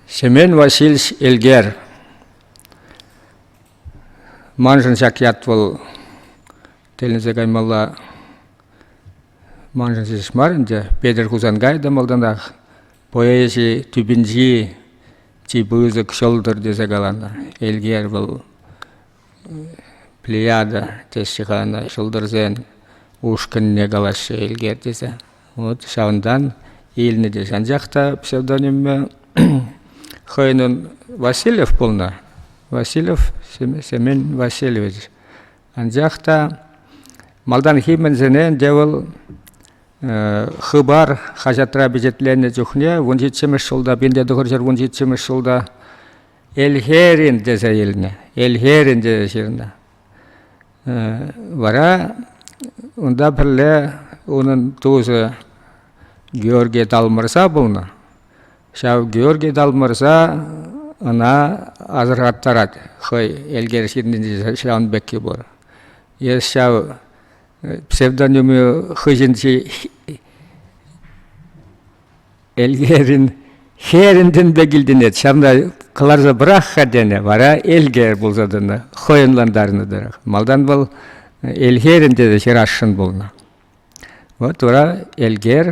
Семен Васильевич Элгер маншӑн ҫак ят вӑл тӗлӗнсе каймалла маншӑн ҫеҫ мар ӗнтӗ Петӗр Хусанкай та малтанах поэзи тӳпинчи чи пысӑк ҫӑлтӑр тесе каланӑ Элгер вӑл плеяда теҫҫӗ-ха ӑна ҫӑлтӑрсен ушкӑнне калаҫҫӗ Элгер тесе. Вот ҫавӑнтан илнӗ тесе. Анчах та псевдонимӗ хӑйӗн Васильев пулнӑ. Васильев, Семен Васильевич. Анчах та малтанхи мӗнсене ӗнтӗ вӑл Хыпар хаҫатра пичетленнӗ чухне вун ҫиччӗмӗш ҫулта, пинте тӑхӑр ҫӗр вун ҫиччӗмӗш ҫулта Элхерин тесе илнӗ. Элхерин тесе ҫырнӑ. Вара унта пӗрле унӑн тусӗ Георгий Талмӑрса пулнӑ. Ҫав Георгий Талмӑрса ӑна асӑрхаттарать хӑй Элкер ҫыннинче ҫавӑн пекки пур. Эс ҫав псевдоними хыҫӗнчи Элкерӗн херӗнтен пек илтӗнет, ҫавна кӑларса пӑрах-ха тенӗ, вара Элкер пулса тӑнӑ, хӑйӑнлантарнӑ тӑрӑх. Малтан вӑл Элхерӗн тесе ҫырасшӑн пулнӑ. Вот вара Элкер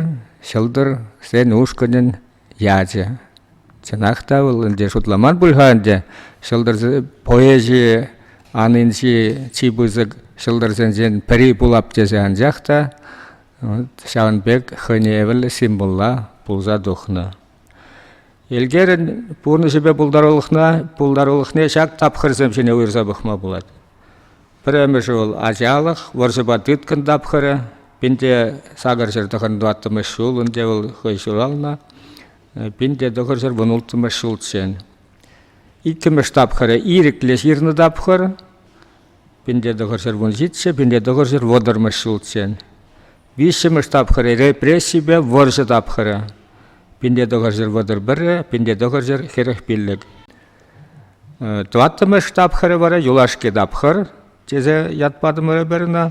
ҫӑлтӑр Сен ушкӑнӗн ячӗ. Чӑнах та вӑл ӗнтӗ шутламан пуль-ха ӗнтӗ ҫӑлтӑр поэзийӗ анинчи чи пысӑк ҫӑлтӑрсенчен пӗри пулап тесе, анчах та ҫавӑн пек хӑйне евӗрлӗ символла пулса тухнӑ. Элкерӗн пурнӑҫӗпе пултарулӑхна, пултарулӑхне ҫак тапхӑрсем ҫине уйӑрса пӑхма пулать. Пӗрремӗшӗ вӑл ачалӑх, вӑрҫӑпа тыткӑн тапхӑрӗ. Пинте сакӑр ҫӗр тӑхӑн тӑваттӑмӗш ҫул ӗнтӗ вӑл хӑй ҫуралнӑ. Пинте тӑхӑр ҫӗр вунулттӑмӗш ҫулччен. Иккӗмӗш тапхӑрӗ ирӗклӗ ҫырнӑ тапхӑр. Пинле тӑхӑрҫӗр вунҫиччӗ, пинле тӑхӑрҫӗр вӑтӑрмӗш ҫулччен. Виҫҫӗмӗш тапхӑр репрессипе вӑрҫӑ тапхӑрӗ. Пинле тӑхӑрҫӗр вӑтӑр пӗрре, пинле тӑхӑрҫӗр хӗрӗх пиллӗк. Тӑваттӑмӗш тапхӑрӗ вара юлашки тапхӑр тесе ят патӑмӑр эпир ӑна.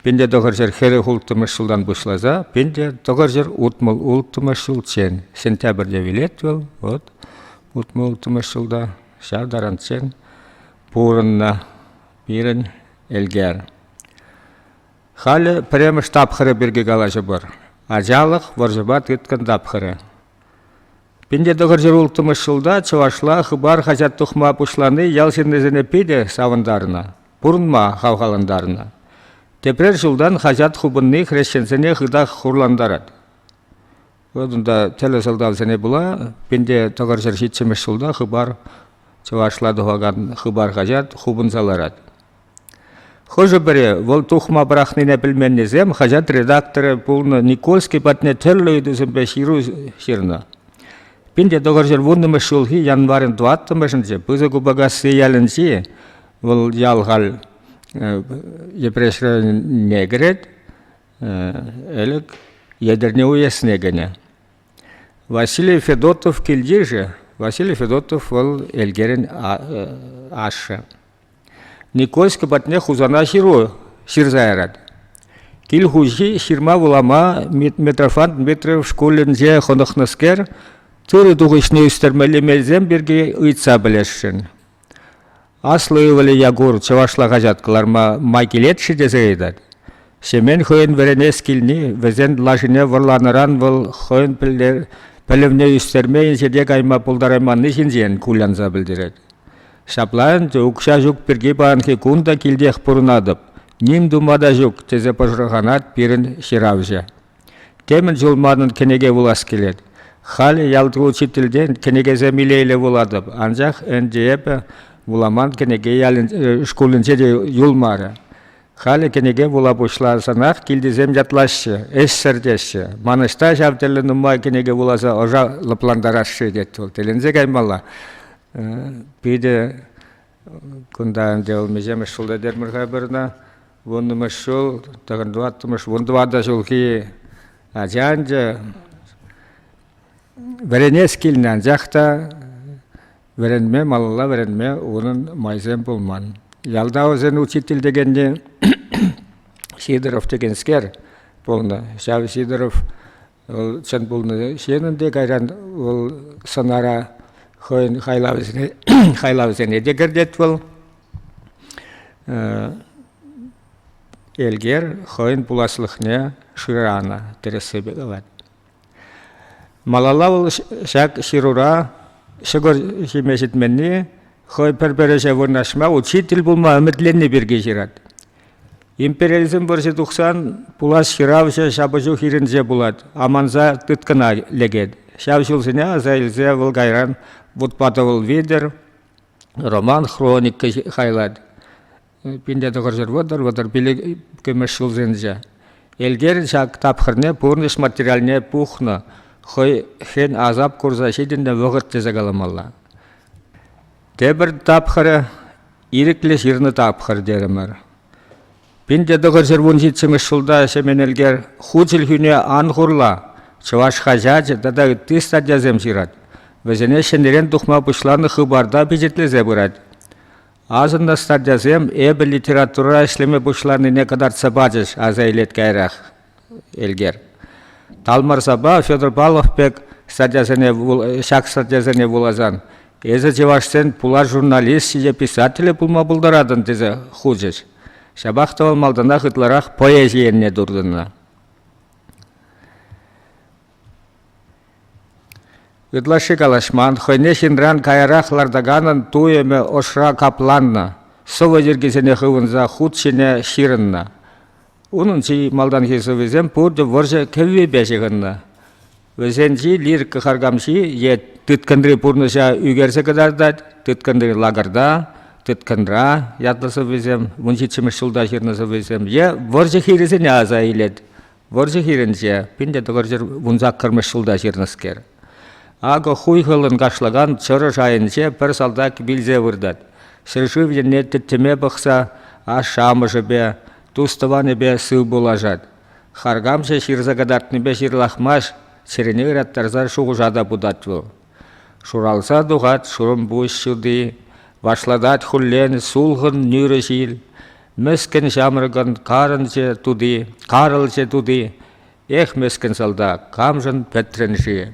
Пинле тӑхӑрҫӗр хӗрӗх улттӑмӗш ҫултан пуҫласа пинле тӑхӑрҫӗр утмӑл улттӑмӗш ҫулччен. Сентябрьте вилет вӑл, вот утмӑл улттӑмӗш ҫулта ҫав таранччен пурӑннӑ пирӗн Элкер. Халӗ пӗрремӗш тапхӑрӗ пирки калаҫӑпӑр. Ачалӑх вӑрҫӑпа тыткӑн тапхӑрӗ. Пинте тӑхӑр ҫул улттӑмӗш ҫулта чӑвашла Хыпар хаҫат тухма пуҫлани ял ҫыннисене питӗ савӑнтарнӑ, пурӑнма хавхалантарнӑ. Тепрер ҫултан хаҫат хупӑнни хресченсене хытах хурлантарать. Унта тӗлӗ сӑлтавсене пула пинте тӑкӑрҫӑр ҫиччӗмӗш ҫулта Хыпар чӑвашла тухакан Хыпар хаҫат хупӑнса ларать. Хӑшӗ-пӗри вӑл тухма пӑрахнине пӗлменнисем хаҫат редакторӗ пулнӑ Никольский патне тӗрлӗ ыйтусемпе ҫыру ҫырнӑ. Пинте тӑкӑрҫӑр вуннӑмӗш ҫулхи январӗн тӑваттӑмӗшӗнче Пысӑк Упакасси ялӗнчи вӑл ял халь Йӗпреҫ районне кӗрет. ӗлӗк Етӗрне уесне кӗнӗ. Василий Федотов килти же, Василий Федотов вӑл Элкерӗн ашшӗ. Никольска патне Хусана ҫыру ҫырса ярать. Кил хуҫи ҫырма вулама Митрофан Дмитриев шкулӗнче хӑнӑхнӑскер тырӑ тухӑҫне ӳстермелли мелсем пирки ыйтса пӗлесшӗн. Аслӑ ывӑлӗ Якур чӑвашла хаҫат кӑларма май килет-ши тесе ыйтать. Ҫемен хӑйӗн вӗренес килни вӗсен лашине вӑрланӑран вӑл хӑйӗн пӗлӗвне ӳстерме инҫете кайма пултарайманни ҫинчен кулянса пӗлтерет. Ҫапла ӗнтӗ укҫа ҫук пирки паянхи кун та килтех пурӑнатӑп, ним тума та ҫук, тесе пӑшӑрханать пирӗн ҫыравҫӑ. Темӗн чул манӑн кӗнеке вулас килет. Халӗ ялти учительтен кӗнекесем илейле вулатӑп, анчах ӗнтӗ эпӗ вуламан кӗнеке ялӗн шкулӗнче те юлмарӗ. Халӗ кӗнеке вула пуҫласанах килтисем ятлаҫҫӗ, ӗҫсӗр теҫҫӗ. Ман ӑҫта ҫав тӗрлӗ нумай кӗнеке вуласа ӑша лӑплантарасши, тет вӑл. Тӗлӗнсе каймалла. Питӗ Кунта ӗнтӗ вӑл миҫемӗш ҫулта термӗр-ха пырнӑ. Вуннӑмӗш ҫул, тӑхӑн тӑваттӑмӗш, вун тӑватӑ ҫулхи ача ӗнтӗ. Вӗренес килнӗ, анчах та вӗренме малалла вӗренме унӑн майсем пулман. Ялта вӗсен учитель текенни Сидоров текенскер пулнӑ. Ҫав Сидоров Вӑл чӑн пулнӑ ҫын ӗнтӗ. Кайран вӑл сӑнара хӑйӗн хайлавӗсене, хайлавӗсене те кӗртет вӑл. Элкер хӑйӗн пуласлӑхне шыранӑ, тӗрӗссипе калать. Малалла вӑл ҫак ҫырура ҫӑкӑр ҫиме ҫитменни хӑй пӗр-пӗр ӗҫе вырнаҫма учитель пулма ӗмӗтленни пирки ҫырать. Империализм вӑрҫи тухсан пулас ҫыравҫӑ ҫапӑҫу хирӗнче пулать, аманса тыткӑна лекет. Ҫав ҫулсене аса илсе вӑл кайран вутпа тӑвӑл витӗр роман-хроника хайлать. Пинте тӑхӑрҫӗр вӑтӑр, вӑтӑр пилӗк иккӗмӗш ҫулсенче. Элкер ҫак тапхӑрне пурнӑҫ материалне пухнӑ, хӑй хӗн асап курса ҫитӗннӗ вӑхӑт тесе каламалла. Тепӗр тапхӑрӗ ирӗклӗ ҫырнӑ тапхӑр терӗмӗр. Пинте тӑхӑрҫӗр вун ҫиччӗмӗш ҫулта Ҫемен Элкер ху чӗлхӳне ан хурла чӑваш хаҫачӗ тата ытти статьясем ҫырать, вӗсене ҫӗнӗрен тухма пуҫланӑ хыпарта пичетлесе пырать. Асӑннӑ статьясем эпӗ литературӑра ӗҫлеме пуҫланине кӑтартса пачӗҫ, аса илет каярах Элкер. Талмарсапа Федор Павлов пек статьясене, ҫак статьясене вуласан эсӗ чӑвашсен пулар журналисчӗ е писателӗ пулма пултаратӑн тесе хучӗҫ. Ҫапах та вӑл малтанах ытларах поэзи енне туртӑннӑ. Ытлашши калаҫман, хӑйне ҫынран каярах лартаканӑн туйӑмӗ ӑшра капланнӑ, сӑвӑ йӗркисене хывӑнса хут ҫине ҫырӑннӑ. Унӑн чи малтанхи сӑввисем пурте вӑрҫӑ кӗввипе ҫыхӑннӑ. Вӗсенчи лирика харкамҫи е тыткӑнри пурнӑҫа ӳкерсе кӑтартать, тыткӑнри лакӑрта, тыткӑнра ятлӑ сӑввисем, вун ҫиччӗмӗш ҫулта ҫырнӑ сӑввисем е вӑрҫӑ хирӗсене аса илет. Вӑрҫӑ хирӗнче пин те тӑкӑрҫӗр вун саккӑрмӗш ҫулта ҫырнӑскер. Акӑ хуйхӑллӑн кашлакан чӑрӑш айӗнче пӗр салтак вилсе выртать. Ҫӗршыв енне тӗттӗме пӑхса ашшӗ-амӑшӗпе, тус-тӑванӗпе сывпуллашать. Харкамҫӑ ҫырса кӑтартнипе ҫырлахмасть, чӗрене ыраттарса шухӑша та путать вӑл. Шуралса тухать шурӑмпуҫ ҫути, Вашлатать хуллен сулхӑн нӳрӗ ҫил. Мӗскӗн ҫамрӑкӑн карӑнчӗ тути, Карӑлчӗ тути. Эх, мӗскӗн салтак, камшӑн пӗтрӗн-ши?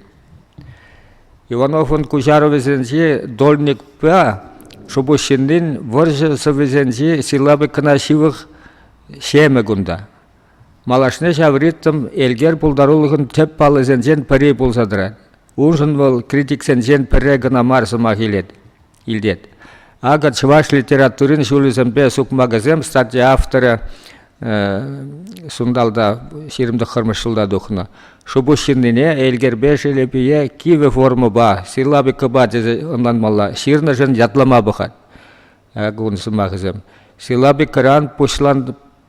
Ивановӑн куҫарӑвӗсенчи Дольникпа Шупуҫҫыннин вӑрҫӑ сӑввисенчи силлабикӑна ҫывӑх ҫемӗ кунта. Малашне ҫав ритм Элкер пултарулӑхӑн тӗп паллисенчен пӗри пулса тӑрать. Уншӑн вӑл критиксенчен пӗрре кӑна мар сӑмах илет. илтет. Акӑ чӑваш литературин ҫулӗсемпе сукмакӗсем статья авторӗ сунталта ҫирӗмтӑххӑрмӗш ҫулта тухнӑ. Шупуҫҫыннине Элкерпе Шелепие кивӗ формӑпа, силлабикӑпа тесе ӑнланмалла, ҫырнӑшӑн ятлама пӑхать. акун сӑмахӗсем. Силабикӑран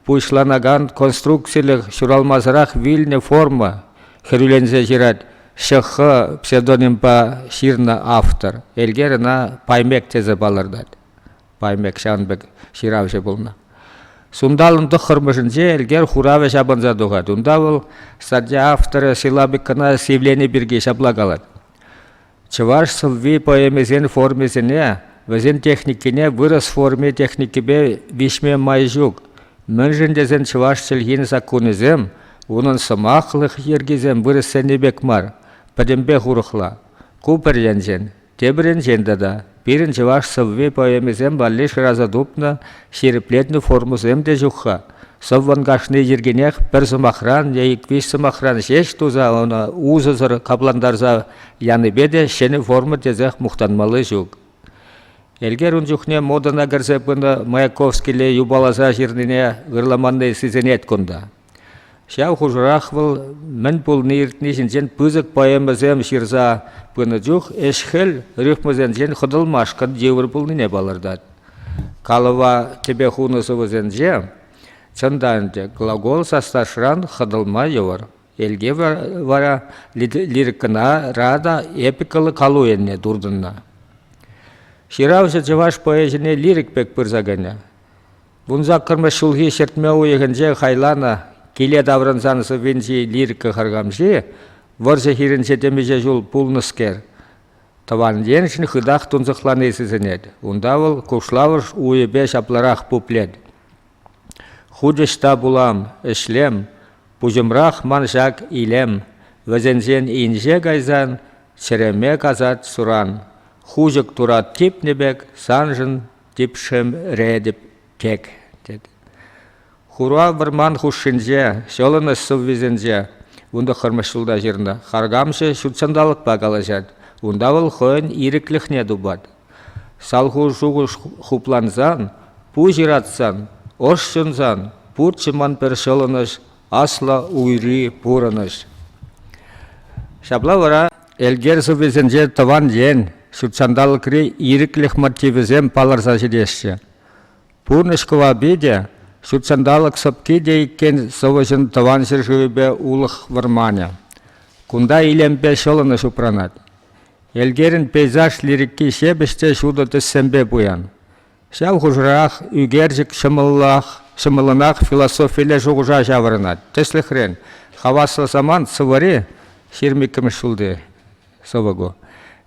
пуҫланакан конструкцилӗх ҫуралмасӑрах вилнӗ форма хӗрӳленсе ҫырать ШХ псевдонимпа ҫырнӑ автор. Элкер ӑна Паймек тесе палӑртать. Паймек ҫавӑн пек ҫыравҫӑ пулнӑ. Сунталӑн тӑххӑрмӗшӗнче Элкер хуравӗ ҫапӑнса тухать. Унта вӑл статья авторӗ Силабикӑна сивлени пирки ҫапла калать. Чӑваш сӑвви поэмисен формисене, вӗсен техникине вырӑс форми техникипе виҫме май ҫук. Мӗншӗн тесен чӑваш чӗлхин саккунӗсем, унӑн сӑмахлӑх йӗркисем вырӑссенни пек мар, пӗтӗмпех урӑхла. Ку пӗр енчен. Тепӗр енчен тата Пирӗн чӑваш сӑвви-поэмисем валли шыраса тупнӑ ҫирӗплетнӗ формӑсем те ҫук-ха. Сӑввӑн кашни йӗркинех пӗр сӑмахран е ик-виҫ сӑмахран ҫеҫ туса ӑна усӑсӑр каплантарса янипе те ҫӗнӗ форма тесех мухтанмалли ҫук. Элкер ун чухне модӑна кӗрсе пынӑ Маяковскилле юпаласа ҫырнине ырламанни сисӗнет кунта. Ҫав хушӑрах вӑл мӗн пулни-иртни ҫинчен пысӑк поэмӑсем ҫырса пынӑ чух ӗҫ-хӗл рифмӑсенчен хӑтӑлмашкӑн йывӑр пулнине палӑртать. Калӑва тӗпе хунӑ сӑвӑсенче, чӑн та ӗнтӗ, глагол саслашран хӑтӑлма йывӑр. Эльке вара лирикӑнара та эпикӑллӑ калу енне туртӑннӑ. Ҫыравҫӑ чӑваш поэчӗне лирик пек пырса кӗнӗ. Вунсаккӑрмӗш ҫулхи ҫӗртме уйӑхӗнче хайланӑ киле таврӑнсан сӑввинчи лирика хырхамҫи вӑрҫӑ хирӗнче темиҫе ҫул пулнӑскер, тӑван еншӗн хытах тунсӑхлани сисӗнет. Унта вӑл кушлавӑш уйӗпе ҫапларах пуплет. «Хутӑҫ та пулам, ӗҫлем, пуҫӑмрах ман ҫак илем, вӗсенчен инҫе кайсан чӗреме касать суран, хушӑк турат типнӗ пек саншӑн Типшӗм ретӗп тек, тет. Хура вӑрман хушшинче, ҫӑлӑнӑҫ сыввисенче, вун тӑххӑрмӗш ҫулта ҫырнӑ. Харкамҫӑ ҫут ҫанталӑкпа калаҫать, унта вӑл хӑйӗн ирӗклӗхне тупать. Салху-шухӑш хуплансан, пуҫ ыратсан, ӑш ҫунсан, пурччӗ ман пӗр ҫӑлӑнӑҫ, аслӑ уйри пурӑнӑҫ. Ҫапла вара Элкер сӑввисенче тӑван ен, ҫут ҫанталӑкри ирӗклӗх мотивӗсем палӑрса ҫитеҫҫӗ. Пурнӑҫ кӑвапи те, ҫут ҫанталӑк сӑпки те иккен сӑвӑҫӑн тӑван ҫӗршывӗпе улӑх вӑрманӗ. Кунта илемпе ҫӑлӑнӑҫ упранать. Элкерӗн пейзаж лирики ҫепӗҫ те ҫутӑ тӗссемпе пуян. Ҫав хушӑрах ӳкерчӗк ҫӑмӑллӑнах философилле шухӑша ҫаврӑнать. Тӗслӗхрен, хаваслӑ самант сӑвӑри ҫирмиккӗмӗш ҫулти сӑвӑ ку.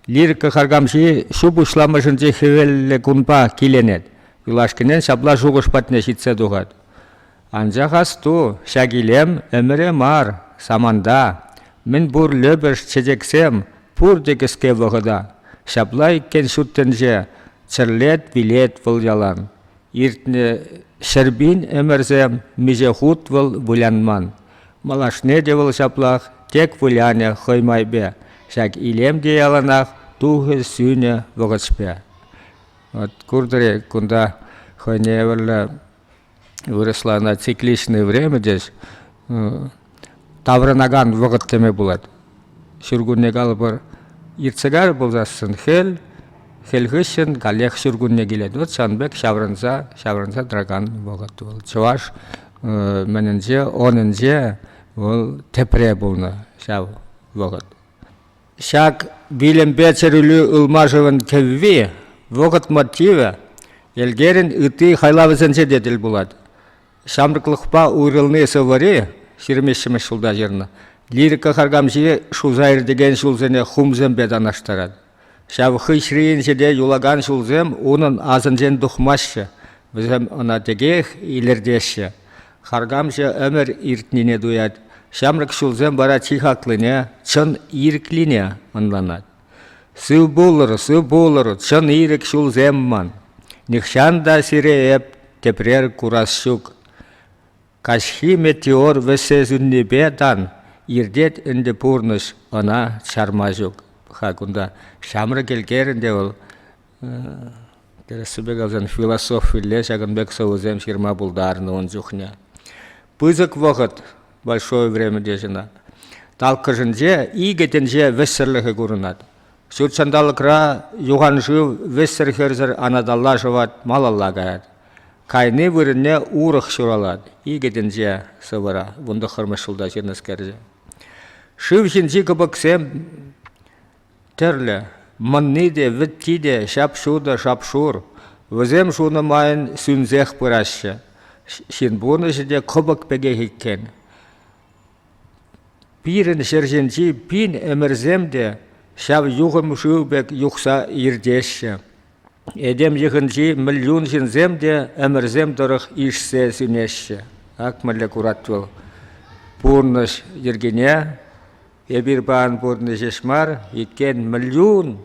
Лирика харкамҫи ҫу пуҫламӑшӗнчи хӗвеллӗ кунпа киленет, юлашкинчен ҫапла шухӑш патне ҫитсе тухать. Анчах асту, ҫак илем ӗмӗре мар, саманта. Мӗнпур лӗпӗш чечексем, пурте кӗске вӑхӑта. Ҫапла иккен ҫут тӗнче, чӗрлет-вилет вӑл ялан. Иртнӗ ҫӗрпин ӗмӗрсем миҫе хут вӑл вылянман. Малашне те вӑл ҫаплах тек вылянӗ хӑй майпе. Ҫак илем те яланах тухӗ-сӳнӗ вӑхӑтшпа. От куртӑр-и кунта хӑйне евӗрлӗ вырӑсла ӑна цикличное время тес таврӑнакан вӑхӑт теме пулать. Ҫуркунне калӑпӑр иртсе кайрӗ пулсассӑн хӗл, хӗл хыҫҫӑн каллех ҫуркунне килет. Вот ҫавӑн пек ҫаврӑнса, ҫаврӑнса тӑракан вӑхӑт вӑл. Чӑваш мӗнӗнче, онӗнче вӑл тепре пулнӑ ҫав вӑхӑт. Ҫак вилӗмпе чӗрӳлӳ ылмашӑвӗн кӗвви, вӑхӑт мотивӗ йӗлкерӗн ытти хайлавӗсенче те тӗл пулать. Ҫамрӑклӑхпа уйрӑлни сӑвӑри ҫирӗммӗҫ ҫулта ҫырнӑ лирика харкамҫи шуса иртекен ҫулсене хумсемпе танлаштарать. Ҫав хыҫрин ҫӗре юлакан ҫулсем унӑн асӗнчен тухмаҫҫӗ, вӗсем ӑна текех илӗртеҫҫӗ. Харкамҫӑ ӗмӗр иртнине туять, ҫамрӑк ҫулсем вара чи хаклине, чӑн ирӗклине ӑнланать. «Сыв пулӑр, сыв пулӑр, чӑн ирӗк ҫулсем ман, нихҫан та сире эп тепрер курас ҫук». Каҫхи метеор вӗҫсе сӳннипе тан иртет ӗнтӗ пурнӑҫ, ӑна чарма ҫук-ха кунта. Ҫамрӑк элкерӗн те вӑл Тӗрӗссипе калсан философилле ҫакӑн пек сӑвӑсем ҫырма пултарнӑ ун чухне. Пысӑк вӑхӑт, большое время теҫҫӗ ӑна. Талккӑшӗнче икӗ тӗнче вӗҫсӗрлӗхӗ курӑнать. Ҫут ҫанталӑкра юханшыв вӗҫсӗр-хӗрсӗр анаталла шӑвать, малалла каять. Кайни вырӑнне урӑх ҫуралать икӗ тӗнче сӑвӑра вун тӑххӑрмӗш ҫулта ҫырнӑскерсем. Шыв ҫинчи кӑпӑксем Тӗрлӗ, мӑнни те, вӗтти те ҫап-ҫутӑ шап-шур. Вӗсем шунӑ майӑн сӳнсех пыраҫҫӗ. Ҫын пурнӑҫӗ те кӑпӑк пекех иккен. Пирӗн ҫӗр ҫинчи пин ӗмӗрсем те ҫав юхӑм шыв пек юхса иртеҫҫӗ. Этем йӑхӗнчи мӗльюн ҫынсем те ӗмӗрсем тӑрӑх ишсе сӳнеҫҫӗ. Акмӗлле курать вӑл пурнӑҫ йӗркине. Эпир паян пурӑнни ҫеҫ мар, иккен мӗльюн.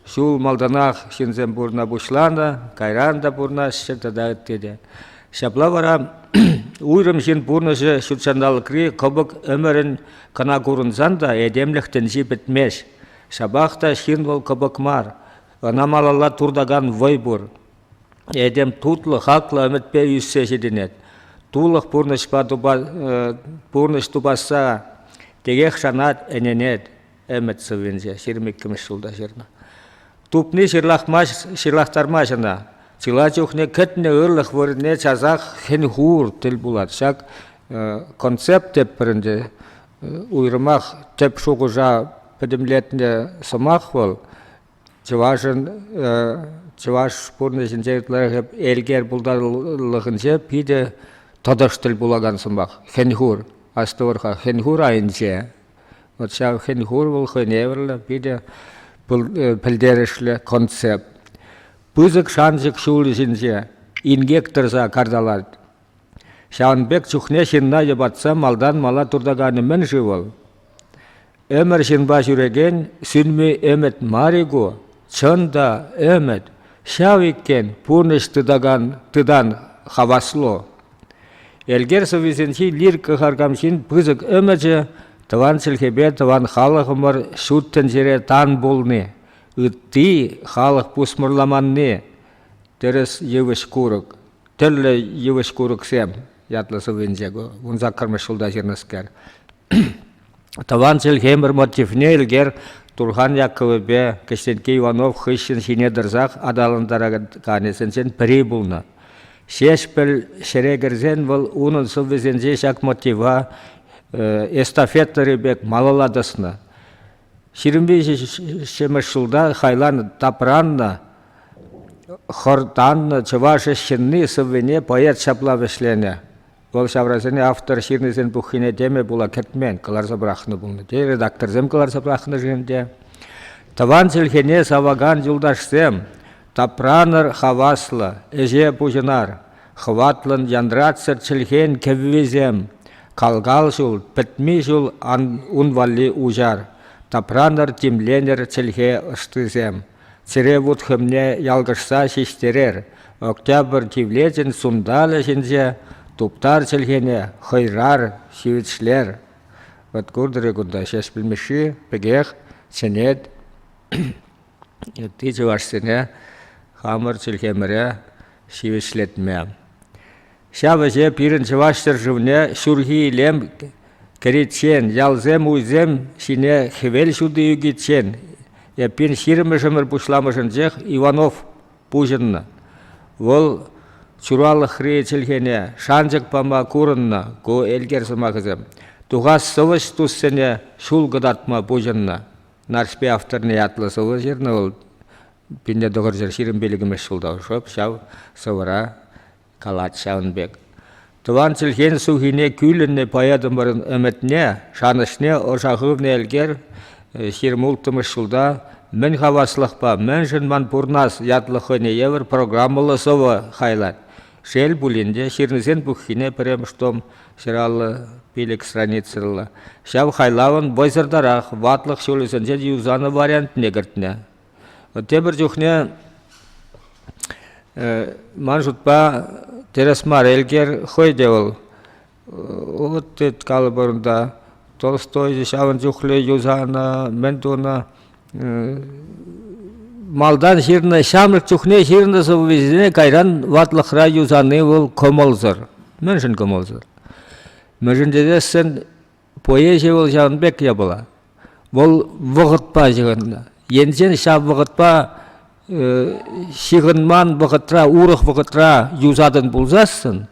Ҫул малтанах ҫынсем пурӑна пуҫланӑ, кайран та пурӑнаҫҫӗ тата ытти те. Ҫапла вара уйрӑм ҫын пурнӑҫӗ ҫут ҫанталӑкри кӑпӑк ӗмӗрӗн кӑна курӑнсан та этемлӗх тӗнчи пӗтмест. Ҫапах та ҫын вӑл кӑпӑк мар, ӑна малалла туртакан вӑй пур. Этем тутлӑ, хаклӑ ӗмӗтпе ӳссе ҫитӗнет. Тулӑх пурнӑҫпа тупа, пурнӑҫ тупасса текех шанать, ӗненет ӗмӗт сыввинче. Ҫирӗм иккӗмӗш ҫулта ҫырнӑ. Тупни ҫырлахтармасть ӑна. Чылай чухне кӗтнӗ ырлӑх вырӑнне часах хӗн-хур тӗл пулать. Ҫак концепт тепӗр ӗнтӗ уйрӑмах тӗп шухӑша пӗтӗмлетнӗ сӑмах вӑл. чӑвашӑн чӑваш пурнӑҫӗнче ытларах элкер пултарулӑхӗнче питӗ тӑтӑш тӗл пулакан сӑмах хӗн-хур астӑвӑр-ха хӗн-хур айӗнче вот ҫав хӗн-хур вӑл хӑйневӗрлӗ питӗ пӗлтерӗшлӗ концепт пысӑк шанчӑк ҫулӗ ҫинче инкек тӑрса карталать Ҫавӑн пек чухне ҫынна йӑпатса малтан мала туртаканӗ мӗн-ши вӑл? Ӗмӗр ҫынпа ҫӳрекен сӳнми ӗмӗт мар-и ку? Чӑн та, ӗмӗт, ҫав иккен пурнӑҫ тытакан тытан хаваслу. Элкер сӑввисенчи лирика харкамҫин пысӑк ӗмӗчӗ тӑван чӗлхепе тӑван халӑхӑмӑр ҫут тӗнчере тан пулни, ытти халӑх пусмӑрламанни, тӗрӗс йывӑҫ-курӑк. тӗрлӗ йывӑҫ курӑксем ятлӑ сӑввинче ку вун саккӑрмӗш ҫулта ҫырнӑскер. Тӑван чӗлхемӗр мотивне Илгер Турхан Яккӑвӗпе Кӗҫтенкке Иванов хыҫҫӑн ҫине тӑрсах аталантараканӗсенчен пӗри пулнӑ. Ҫеҫпӗл ҫӗре кӗрсен вӑл унӑн сӑввисенче ҫак мотива эстафетӑри пек малалла тӑснӑ. Ҫирӗмпе ҫиччӗмӗш ҫулта хайлан тапраннӑ, хӑртаннӑ чӑваш ӗҫҫынни сӑввине поэт ҫапла вӗҫленӗ. Вӑл ҫаврасене автор ҫырнисен пуххине теме пула кӗтмен, кӑларса пӑрахнӑ пулнӑ. Те редакторсем кӑларса пӑрахнӑшӑн те. Тӑван чӗлхене савакан юлташсем, тапранӑр хаваслӑ, ӗҫе пуҫӑнар. Хӑватлӑн янратсӑр чӗлхен кӗввисем, кал-кал ҫул, пӗтми ҫул ун валли уҫар, тапранӑр, тимленӗр чӗлхе ӑштисем. Чӗре вут хӗмне ялкӑшса ҫиҫтерер, Октябрь тивлечӗн сунталӗ ҫинче туптар чӗлхене, хӑйрар, ҫивӗчлер. Вӑт куртӑр-и кунта, ҫеҫ пӗлмешши пекех чӗнет Ытти чӑвашсене хамӑр чӗлхемӗре ҫивӗчлетме. Ҫав ӗҫе пирӗн чӑваш ҫӗршывне ҫурхи илем кӗриччен, ялсем-уйсем ҫине хӗвел ҫути ӳкиччен эппин ҫирӗммӗшӗмӗр пуҫламӑшӗнчех Иванов пуҫӑннӑ. Вӑл чуралӑхри чӗлхене шанчӑк пама курӑннӑ ку элкер сӑмахӗсем. Тухас сӑвӑҫ туссене ҫул кӑтартма пуҫӑннӑ. Нарспи авторне ятлӑ сӑвӑ ҫырнӑ вӑл. Пинле тӑхӑрҫӗр ҫирӗм пилӗкмӗш ҫулта шӑп ҫав сӑвӑра калать ҫавӑн пек. Тӑван чӗлхен сухине кӳлӗннӗ поэтӑмӑрӑн ӗмӗтне, шанӑҫне ӑша хывнӑ Элкер ҫирӗмулттӑмӗш ҫулта «Мӗн хаваслӑхпа мӗншӗн ман пурнас» ятлӑ хӑйне евӗр программӑллӑ сӑвӑ хайлать. Шел пулин те, ҫырнисен пуххине пӗрремӗш том ҫӑраллӑ пилӗк страницӑллӑ. Ҫав хайлавӑн вӑйсӑртарах ватлӑх ҫулӗсенче юсанӑ вариантне кӗртнӗ. Тепӗр чухне ман шутпа тӗрӗс мар Элкер хӑй те вӑл От тет калӑпӑр унта. Толстой ҫавӑн чухлӗ юсанӑ, мӗн тунӑ. Малтан ҫырнӑ, ҫамрӑк чухне ҫырнӑ сӑввисене кайран ватлӑхра юсани вӑл кӑмӑлсӑр. Мӗншӗн кӑмӑлсӑр? Мӗншӗн тесен поэзи вӑл ҫавӑн пек япала. Вӑл вӑхӑтпа ҫыхӑннӑ. Енчен ҫав вӑхӑтпа ҫыхӑнман вӑхӑтра, урӑх вӑхӑтра юсатӑн пулсассӑн,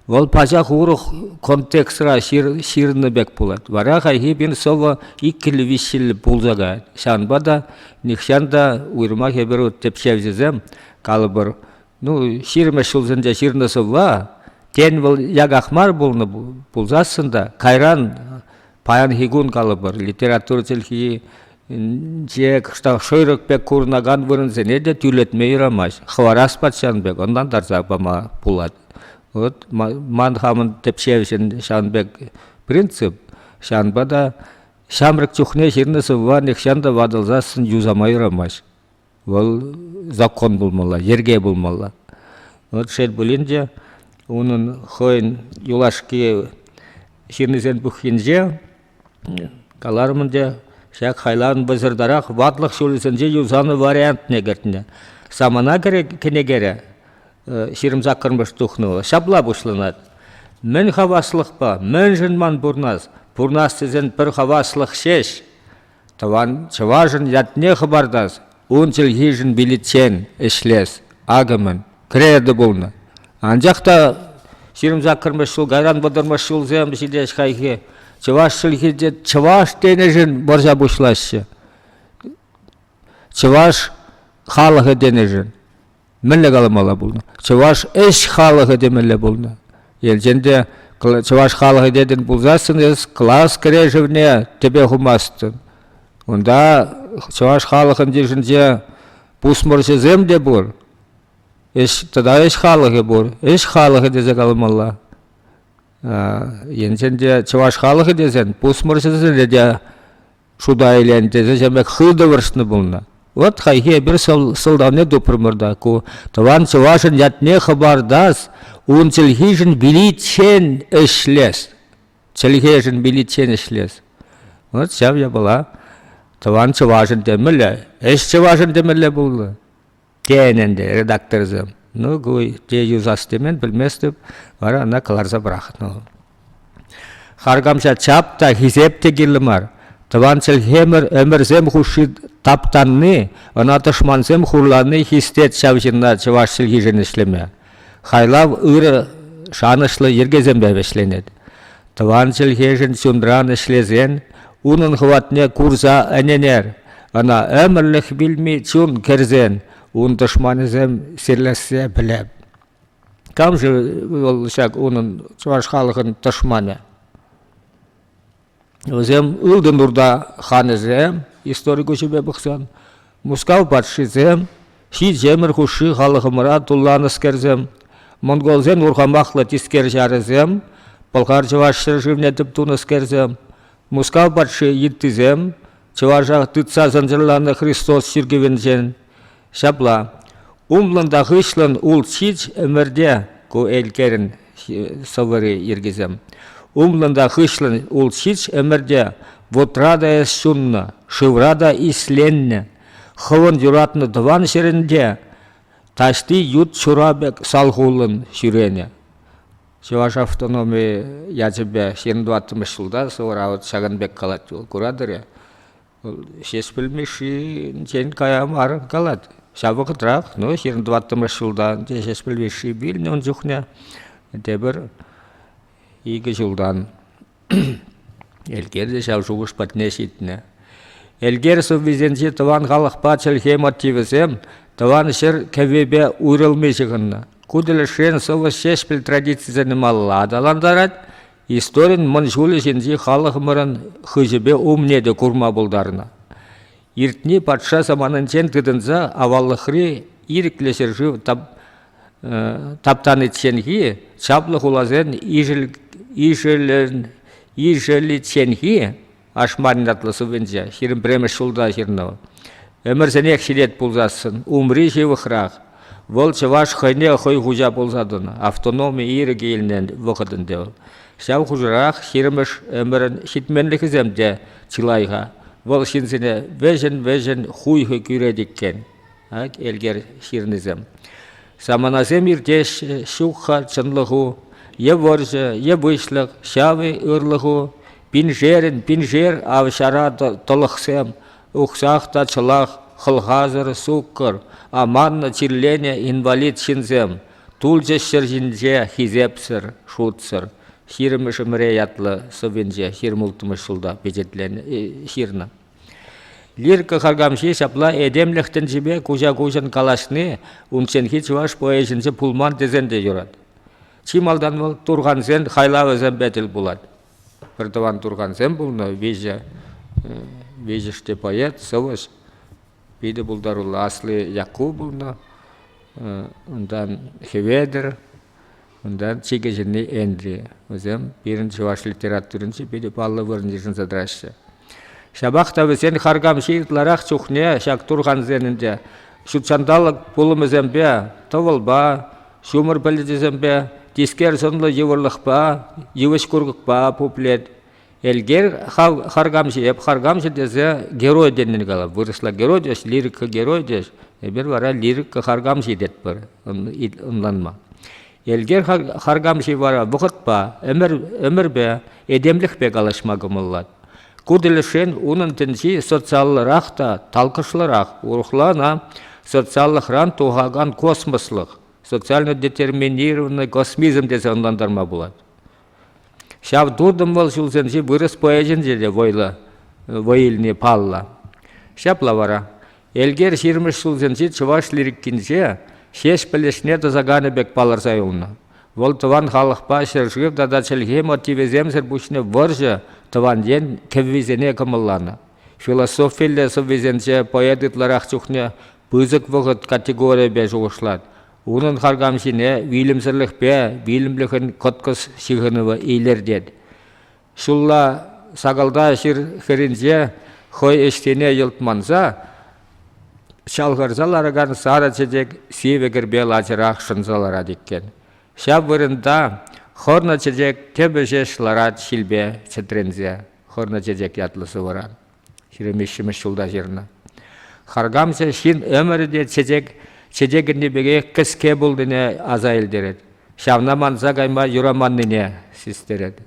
вӑл пачах урӑх контекстра ҫырнӑ пек пулать. Вара хайхи пин сӑвӑ иккӗллӗ, виҫҫӗллӗ пулса каять. Ҫавӑнпа та нихҫан та уйрӑмах эпир тӗпчевҫӗсем, калӑпӑр, ну, ҫирӗммӗш ҫулсенче ҫырнӑ сӑвва, тен, вӑл яках мар пулнӑ пулсассӑн та, кайран Паянхи кун калӑпӑр, литература чӗлхинче шӑйрӑк пек курӑнакан вырӑнсене те тӳрлетме юрамасть. Хӑварас патшан пек ӑнлантарса пама пулать. Вот ман хамӑн тӗпчевҫӗн ҫавӑн пек принцип, ҫавӑнпа та ҫамрӑк чухне ҫырнӑ сӑвва нихҫан та ватӑлсассӑн юсама юрамасть. Вӑл закон пулмалла, йӗрке пулмалла. Вӑл шел пулин те, унӑн хӑйӗн юлашки ҫыннисен пуххинче каларӑм ӗнтӗ, ҫак хайлавӑн пӑсӑртарах ватлӑх ҫулӗсенче юсанӑ вариантне кӗртнӗ. Самана кӗнекере ҫирӗм-саккӑрмӗш тухнӑ вӑл. Ҫапла пуҫланать. Мӗн хаваслӑхпа, мӗншӗн ман пурнас? Пурнас тесен пӗр хаваслӑх ҫеҫ. Тӑван чӑвашӑн ятне хӑпартас, ун чӗлхишӗн виличчен ӗҫлес акӑмӗн кредо пулнӑ. Анчах та ҫирӗм саккӑрмӗш ҫул кайран вӑтӑрмӗш ҫулсем ҫитес хайхи чӑваш чӗлхинче чӑваш тенӗшӗн вӑрҫа пуҫлаҫҫӗ. Чӑваш халӑхӗ тенӗшӗн. мӗнле каламалла пулнӑ чӑваш ӗҫ халӑхӗ темелле пулнӑ елченте чӑваш халӑхӗ тетӗн пулсассӑн эс класс кӗрешӗвне тӗпе хумастӑн унта чӑваш халӑхӑн йышӗнче пусмӑрҫӑсем те пур ӗҫ тата ӗҫ халӑхӗ пур ӗҫ халӑхӗ тесе каламалла енчен те чӑваш халӑхӗ тесен пусмӑрҫӑсенре те шута илен тесе чемек хытӑвӑршнӑ пулнӑ. Вот хайхи эпир сӑлтавне тупрӑмӑр та ку тӑван чӑвашӑн ятне хӑпартас, ун чӗлхишӗн биличчен ӗҫлес, чӗлхешӗн биличчен ӗҫлес. Вот ҫав япала тӑван чӑвашӑн темелле, ӗҫ чӑвашӑн темелле пулнӑ. Тен ӗнтӗ редакторсем, ну ку те юсас темен пӗлместӗп, вара ӑна кӑларса пӑрахнӑ. Харкамҫа чап та хисеп те кирлӗ мар. Тӑван чӗлхемӗр ӗмӗрсем хушши таптанни, ӑна тӑшмансем хурланни хистет ҫав ҫынна чӑваш чӗлхишӗн ӗҫлеме. Хайлав ырӑ, шанӑҫлӑ йӗркесемпе вӗҫленет. Тӑван чӗлхешӗн чунран ӗҫлесен унӑн хӑватне курса ӗненер. Ӑна ӗмӗрлӗх вилми чун кӗрсен ун тӑшманӗсем сирлессе пӗлеп. Кам-ши вӑл ҫак унӑн чӑваш халӑхӑн тӑшманӗ? Вӗсем ылтӑн урта ханӗсем, истори куҫӗпе пӑхсан, Мускав патшисем, ҫичемӗр хушши халӑхӑмӑра тулланӑскерсем, монголсен урхамахлӑ тискер ҫарӗсем, пӑлхар-чӑваш ҫӗршывне тӗп тунӑскерсем, Мускав патши йыттисем, чӑваша тытса сӑнсӑрланӑ Христос чиркӗвӗнчен. Ҫапла, умлӑн та хыҫлӑн ул ҫич ӗмӗрте ку элкерӗн сӑвӑри йӗркисем. Умлӑн та хыҫлӑн ул ҫич ӗмӗрте вутра та эс ҫуннӑ, шывра та исленнӗ, хӑвӑн юратнӑ тӑван ҫӗрӗнче таҫти ют ҫура пек салхуллӑн ҫӳренӗ. Чӑваш автономи ячӗпе ҫирӗм тӑваттӑмӗш ҫулта сӑвӑра вот ҫакӑн пек калать вӑл. Куратӑр-и? Вӑл Ҫеҫпӗл Мишшинчен кая мар калать. Ҫав вӑхӑтрах, ну, ҫирӗм тӑваттӑмӗш ҫултан те Ҫеҫпӗл Мишши вилнӗ ун чухне, тепӗр икӗ ҫултан. Элкер те ҫав шухӑш патне ҫитнӗ. Элкер сӑввисенчи тӑван халӑхпа чӗлхе мотивӗсем тӑван ҫӗр кӗввипе уйрӑлми ҫыхӑннӑ. Ку тӗлӗшрен сӑвӑс Ҫеҫпӗл традицисене малалла аталантарать, историн мӑн ҫулӗ ҫинчи халӑхӑмӑрӑн хыҫӗпе умне те курма пултарнӑ. Иртни патша саманинчен тытӑнса аваллӑхри ирӗклӗ ҫӗршыв таптаничченхи чаплӑ хуласен ишӗличченхи Ашмарин ятлӑ сувенчӗ ҫирӗм пӗрремӗш ҫулта ҫырнӑ вӑл. Ӗмӗрсенех ҫитет пулсассӑн умри ҫывӑхрах. Вӑл чӑваш хӑйне хӑй хуҫа пулса тӑнӑ. Автономи ирӗкӗ илнӗ вӑхӑт ӗнтӗ вӑл. Ҫав хушӑрах ҫирӗмӗш ӗмӗрӗн ҫитменлӗхӗсем те чылай-ха. Вӑл ҫынсене вӗҫӗн-вӗҫӗн хуйхӑ кӳрет иккен. Ак, Элкер ҫырнисем. Саманасем иртеҫҫӗ, ҫук-ха чӑнлӑху, Е вӑрҫӑ, е выҫлӑх, ҫав-и ырлӑху, Пиншерӗн пиншер ав ҫара тӑлӑхсем, Ухсах та чӑлах, хӑлхасӑр суккӑр, Аманнӑ чирленӗ инвалид ҫынсем, Тулчӗҫ ҫӗр ҫинче хисепсӗр, шутсӑр. Ҫирӗмӗш ӗмӗре ятлӑ сӑввинче ҫырмӑлттӑмӗш ҫулта пичетленӗ ҫырнӑ. Лирика харкамҫи ҫапла этемлӗх тӗнчипе куҫа-куҫӑн калаҫни унчченхи чӑваш поэчӗнче пулман тесен те юрать. Чи малтан вӑл турхансен хайлавӗсемпе тӗл пулать. Пӗртӑван турхансем пулнӑ, виҫӗ, виҫӗште поэт, сӑвӑҫ, питӗ пултаруллӑ. Асли Якку пулнӑ, унтан Хӗветӗр, Унтан чикӗ ҫырни Энтри. Вӗсем пирӗн чӑваш литературинче питӗ паллӑ вырӑн йышӑнса тӑраҫҫӗ. Ҫапах та вӗсен харкамҫи ытларах чухне ҫак турхансен ӗнтӗ ҫутҫанталӑк пулӑмӗсемпе, тӑвӑлпа, ҫумӑр пӗлӗчӗсемпе, тискер сӑнлӑ йывӑрлӑхпа, йывӑҫ курӑкпа пуплет. Элгер хав харкамҫӑ, эп харкамҫӑ тесе герой тенин калап. Вырӑсла герой тӗс, лирика герой тӗс. Эпир вара лирика харкамҫи тетпӗр ӑнланма. Элгер харкамҫи вара вӑхӑтпа, ӗмӗрпе, этемлӗхпе калаҫма кӑмӑллать. Ку тӗлӗшрен унӑн тӗнчи социаллӑрах та талкӑшлӑрах, урӑхлана социаллӑхран тухакан космослӑх, социально детерминированный космизм тесе ӑнлантарма пулать. Ҫав туртӑм вӑл ҫулсенчи вырӑс поэчӗнче те вӑйлӑ вӑй илни паллӑ. Ҫапла вара Элкер ҫирӗммӗш ҫулсенчи чӑваш лирикинче Ҫеҫпӗл ӗҫне тӑсаканӗ пек палӑрса юлнӑ. Вӑл тӑван халӑхпа ҫӗршыв тата чӗлхе мотивӗсемсӗр пуҫне вӑрҫӑ тӑван ен кӗввисене кӑмӑлланӑ. Философиллӗ сӑввисенче поэт ытларах чухне пысӑк вӑхӑт категорийӗпе шухӑшлать. Унӑн харкамҫине вилӗмсӗрлӗхпе вилӗмлӗхӗн кӑткӑс ҫыхӑнӑвӗ илӗртет. Ҫулла сакалта ҫыр хӗрринче хӑй ӗҫсене йӑлтманса чалхӑрса ларакан сарӑ чечек сивӗ кӗрпе лачӑрах шӑнса ларать иккен. Ҫав вырӑнта хӑрнӑ чечек тӗпӗ ҫеҫ ларать ҫилпе чӗтренсе. Хӑрнӑ чечек ятлӑ сӑвӑран. ҫирӗмвиҫҫӗмӗш ҫулта ҫырнӑ. Харкамсӑр ҫын ӗмӗрӗ те чечек чечекӗнни пекех кӗске пулнине аса илтерет. Ҫавна манса кайма юраманнине систерет.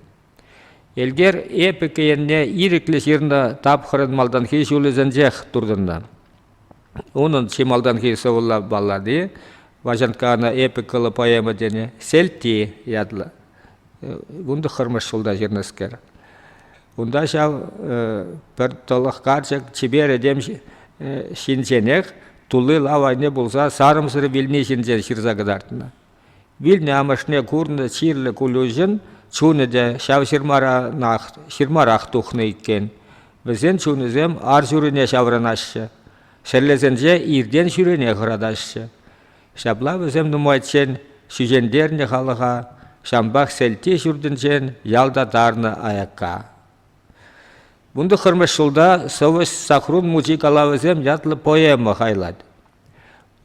Элкер эпӗ енне ирӗклӗ ҫырнӑ тапхӑрӑн малтанхи ҫулӗсенчех туртӑннӑ. Унӑн чи малтанхи сӑвӑлла баллади, Ваҫанкка ана эпӗ кӑлӑ поэма тенӗ, Сельти ятлӑ. Вун тӑххӑрмӗш ҫулта ҫырнӑскер. Унта ҫав пӗр тӑлӑх карчӑк чипер этем ҫинченех тулли лав айне пулса сарӑмсӑр вилни ҫинчен ҫырса кӑтартнӑ. Вилнӗ амӑшне курнӑ чирлӗ Кулюшӑн чунӗ те ҫав ҫырмаранах, ҫырмарах тухнӑ иккен. Вӗсен чунӗсем ар ҫурине ҫаврӑнаҫҫӗ, шеллесенче иртен ҫӳрене хӑратаҫҫӗ. Ҫапла вӗсем нумайччен ҫӳҫентернӗ халӑха, ҫампах Сӗлти ҫуртӗнчен ялта тарнӑ аякка. Вун тӑххӑрмӗш ҫулта сӑвӑҫ Сахрун мучи калавӗсем ятлӑ поэма хайлать.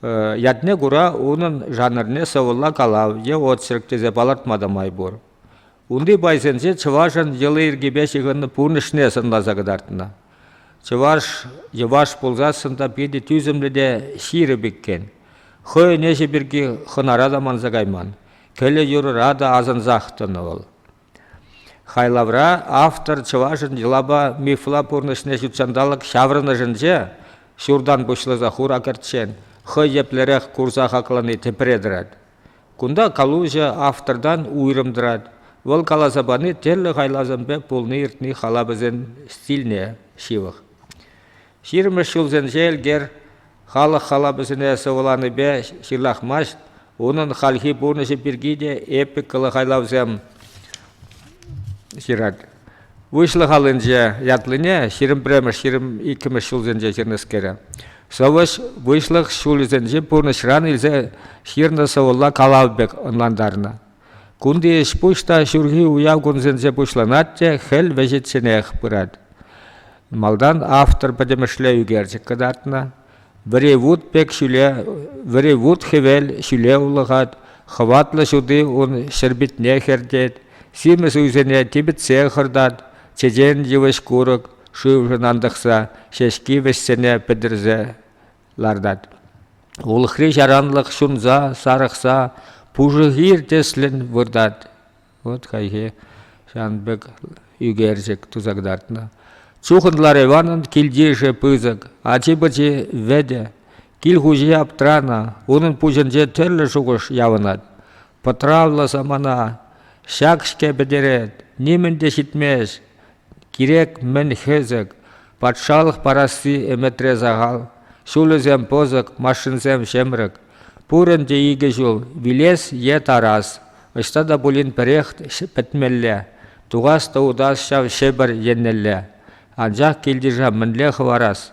Ятне кура унӑн жанрне сӑвӑлла калав е очерк тесе палӑртма та май пур. Унти пайсенче чӑвашӑн йӑли-йӗркипе ҫыхӑннӑ пурнӑҫне сӑнласа кӑтартнӑ. Чӑваш йӑваш пулсассӑн та питӗ тӳсӗмлӗ те ҫирӗп иккен. Хӑй ӗнеҫӗ пирки хӑнара та манса кайман, кӗлӗ-юрӑра та асӑнсах тӑнӑ вӑл. Хайлавра автор чӑвашӑн йӑлапа мифла пурнӑҫне ҫутҫанталӑк ҫаврӑнӑшӗнче ҫуртан пуҫласа хура кӗрччен хӑй еплерех курса хаклани тӗпре тӑрать. Кунта калуҫӑ автортан уйрӑм тӑрать, вӑл каласа пани тӗрлӗ хайлавсемпе пулни-иртни халапӗсен стильне ҫывӑх. Ҫирӗммӗш ҫулсенче Элкер халӑх халапӗсене сӑвӑланипе ҫырлахмасть, унӑн хальхи пурнӑҫӗ пирки те эпикӑллӑ хайлавсем ҫырать. Выҫлӑх аллинче ятлине ҫирӗм пӗрремӗш ҫирӗм иккӗмӗш ҫулсенче ҫырнӑскере. Сӑвӑҫ выҫлӑх ҫулӗсенчи пурнӑҫран илсе ҫырнӑ сӑвӑлла калав пек ӑнлантарнӑ. Кунти ӗҫ-пуҫ та ҫурхи уяв кунсенче пуҫланать те хӗл вӗҫӗчченех пырать. Малтан автор пӗтӗмӗшле ӳкерчӗк кӑтартнӑ, Вӗри-вут пек ҫӳле, вӗри-вут хӗвел ҫӳле улӑхать, хӑватлӑ ҫути ун ҫӗрпӳтне хӗртет, симӗс уйсене типӗтсе хӑртать, чечен йывӑҫ-курӑк шывшӑн антӑхса ҫеҫки вӗҫсене пӗтӗрсе лартать. Улӑхри ҫаранлӑх ҫунса, сарӑхса пушӑ хир тӗслӗн выртать. Вот хайхи ҫавӑн пек ӳкерчӗк туса кӑтартнӑ. Чухӑнлар Иванӑн килтишӗ пысӑк, ачи-пӑчи вӗтӗ. Кил хуҫи аптранӑ, унӑн пуҫӗнче тӗрлӗ шухӑш явӑнать. Пӑтравлӑ самана ҫак-ҫке пӗтерет, нимӗн те ҫитмест. Кирек-мӗн хӗсӗк, патшалӑх парасси ӗмӗтре сахал, ҫулӗсем пӑсӑк, машинсем ҫӗмрӗк. Пурӑн те икӗ ҫул, вилес е тарас, ӑҫта та пулин пӗрех пӗтмелле, тухас та утас ҫав Ҫӗпӗр еннелле. Анчах килте мӗнле хӑварас?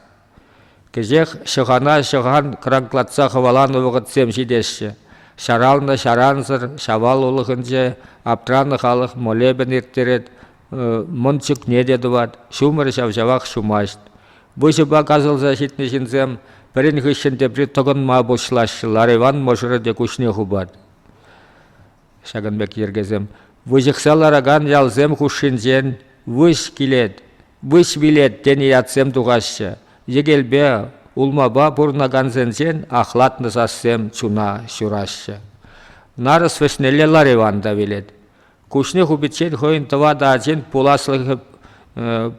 Кӗҫех ҫӑхана ҫӑхан кранклатса хӑваланӑ вӑхӑтсем ҫитеҫҫӗ. Ҫаралнӑ ҫарансӑр Ҫавал улӑхӗнче аптранӑ халӑх молебен ирттерет, мӑн чӳкне те тӑвать, ҫумӑр ҫав-ҫавах ҫумасть. Выҫӑпа касӑлса ҫитнӗ ҫынсем пӗрин хыҫҫӑн тепри тӑкӑнма пуҫлаҫҫӗ, Лар Иван мӑшӑрӗ те куҫне хупать. Ҫакӑн пек йӗркесем выҫӑхса ларакан ялсем хушшинчен выҫ килет, выҫ вилет тенӗ ятсем тухаҫҫӗ. Йӗкелпе улмапа пурӑнакансенчен ахлатнӑ сассем чуна ҫураҫҫӗ. Нарӑс вӗҫнелле Лариван та вилет. Куҫне хупиччен хӑйӗн тӑватӑ ачин пуласлӑхӗ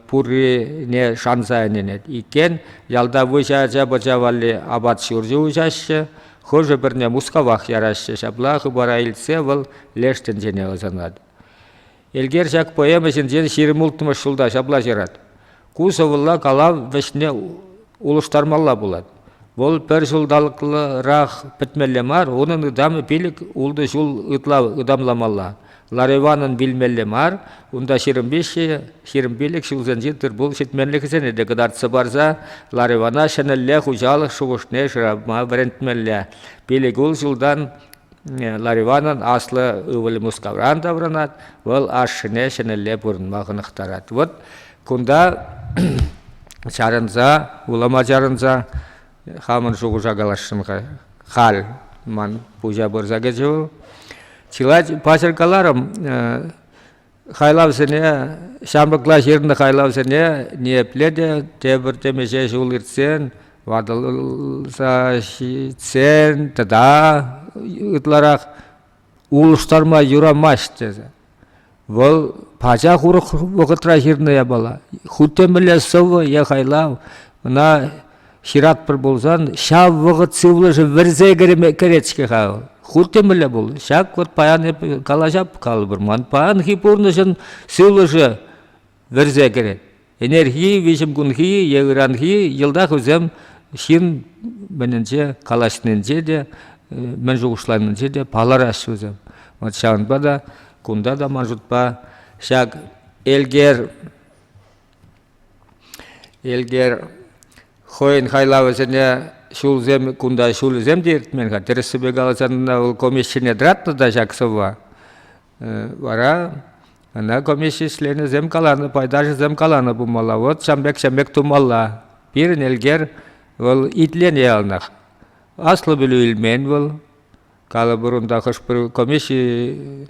пуррине шанса ӗненет иккен. Ялта выҫӑ ача-пӑча валли апат-ҫурчӗ уҫаҫҫӗ. Хӑшӗ-пӗрне Мускавах яраҫҫӗ. Ҫапла хыпара илтсе вӑл леш тӗнчене ӑсанать. Элкер ҫак поэма ҫинчен ҫирӗм улттӑмӗш ҫулта ҫапла ҫырать. Ку сӑвӑлла калав вӗҫне улӑштармалла пулать. Вӑл пӗр ҫулталӑкрах пӗтмелле мар, унӑн ытамӗ пилӗк ултӑ ҫул ытла ытамламалла. Ларӑванӑн вилмелле мар, унта ҫирӗм-пилӗк ҫулсенчи тыр-пул ҫитменлӗхӗсене те кӑтартса парса ларӑвана ҫӗнӗлле хуҫалӑх шухӑшне шырама вӗрентмелле. Пилӗк ултӑ ҫултан ларӑванӑн аслӑ ывӑлӗ Мускавран таврӑнать, вӑл ашшӗне ҫӗнӗлле пурӑнма хӑнӑхтарать. Вот кунта чарӑнса, улӑма чарӑнса Хамӑн шухӑша каласшӑн-ха. Халь ман пуҫа пырса кӗчӗ вӑл. Чылай паҫӑр каларӑм, хайлавсене, ҫамрӑкла ҫырнӑ хайлавсене ниепле те тепӗр темиҫе ҫул иртсен, ватӑлса ҫитсен тата ытларах улӑштарма юрамасть тесе. Вӑл пачах урӑх вӑхӑтра ҫырнӑ япала. Хуть те мӗнле сӑвӑ е хайлав ӑна ҫыратпӑр пулсан, ҫав вӑхӑт сывлӑшӗ вӗрсе кӗрет-ҫке-ха вӑл. Хуть те мӗнле пул. Ҫак вот паян эп калаҫап калӑпӑр. Ман паянхи пурнӑҫӑн сывлӑшӗ вӗрсе кӗрет. Ӗнерхи, виҫӗмкунхи е ыранхи йӑлта хӑйсем ҫын мӗнӗнче калаҫнинче те, мӗн шухӑшланинче те палӑраҫҫӗ вӗсем. Вот ҫавӑнпа та кунта та ман шутпа ҫак Элкер Элкер хӑйӗн хайлавӗсене ҫулсем кунта ҫулӗсем те иртмен-ха. Тӗрӗссипе каласан, вӑл комӗҫҫине тӑратнӑ та ҫак сӑвва. Вара ӑна комисси членӗсем каланӑ, пайташӗсем каланӑ пулмалла, вот ҫам пек ҫам пек тумалла. Пирӗн элкер вӑл итленӗ яланах. Аслӑ пӗлӳ илмен вӑл. Калӑпӑр унта хӑш-пӗр комисси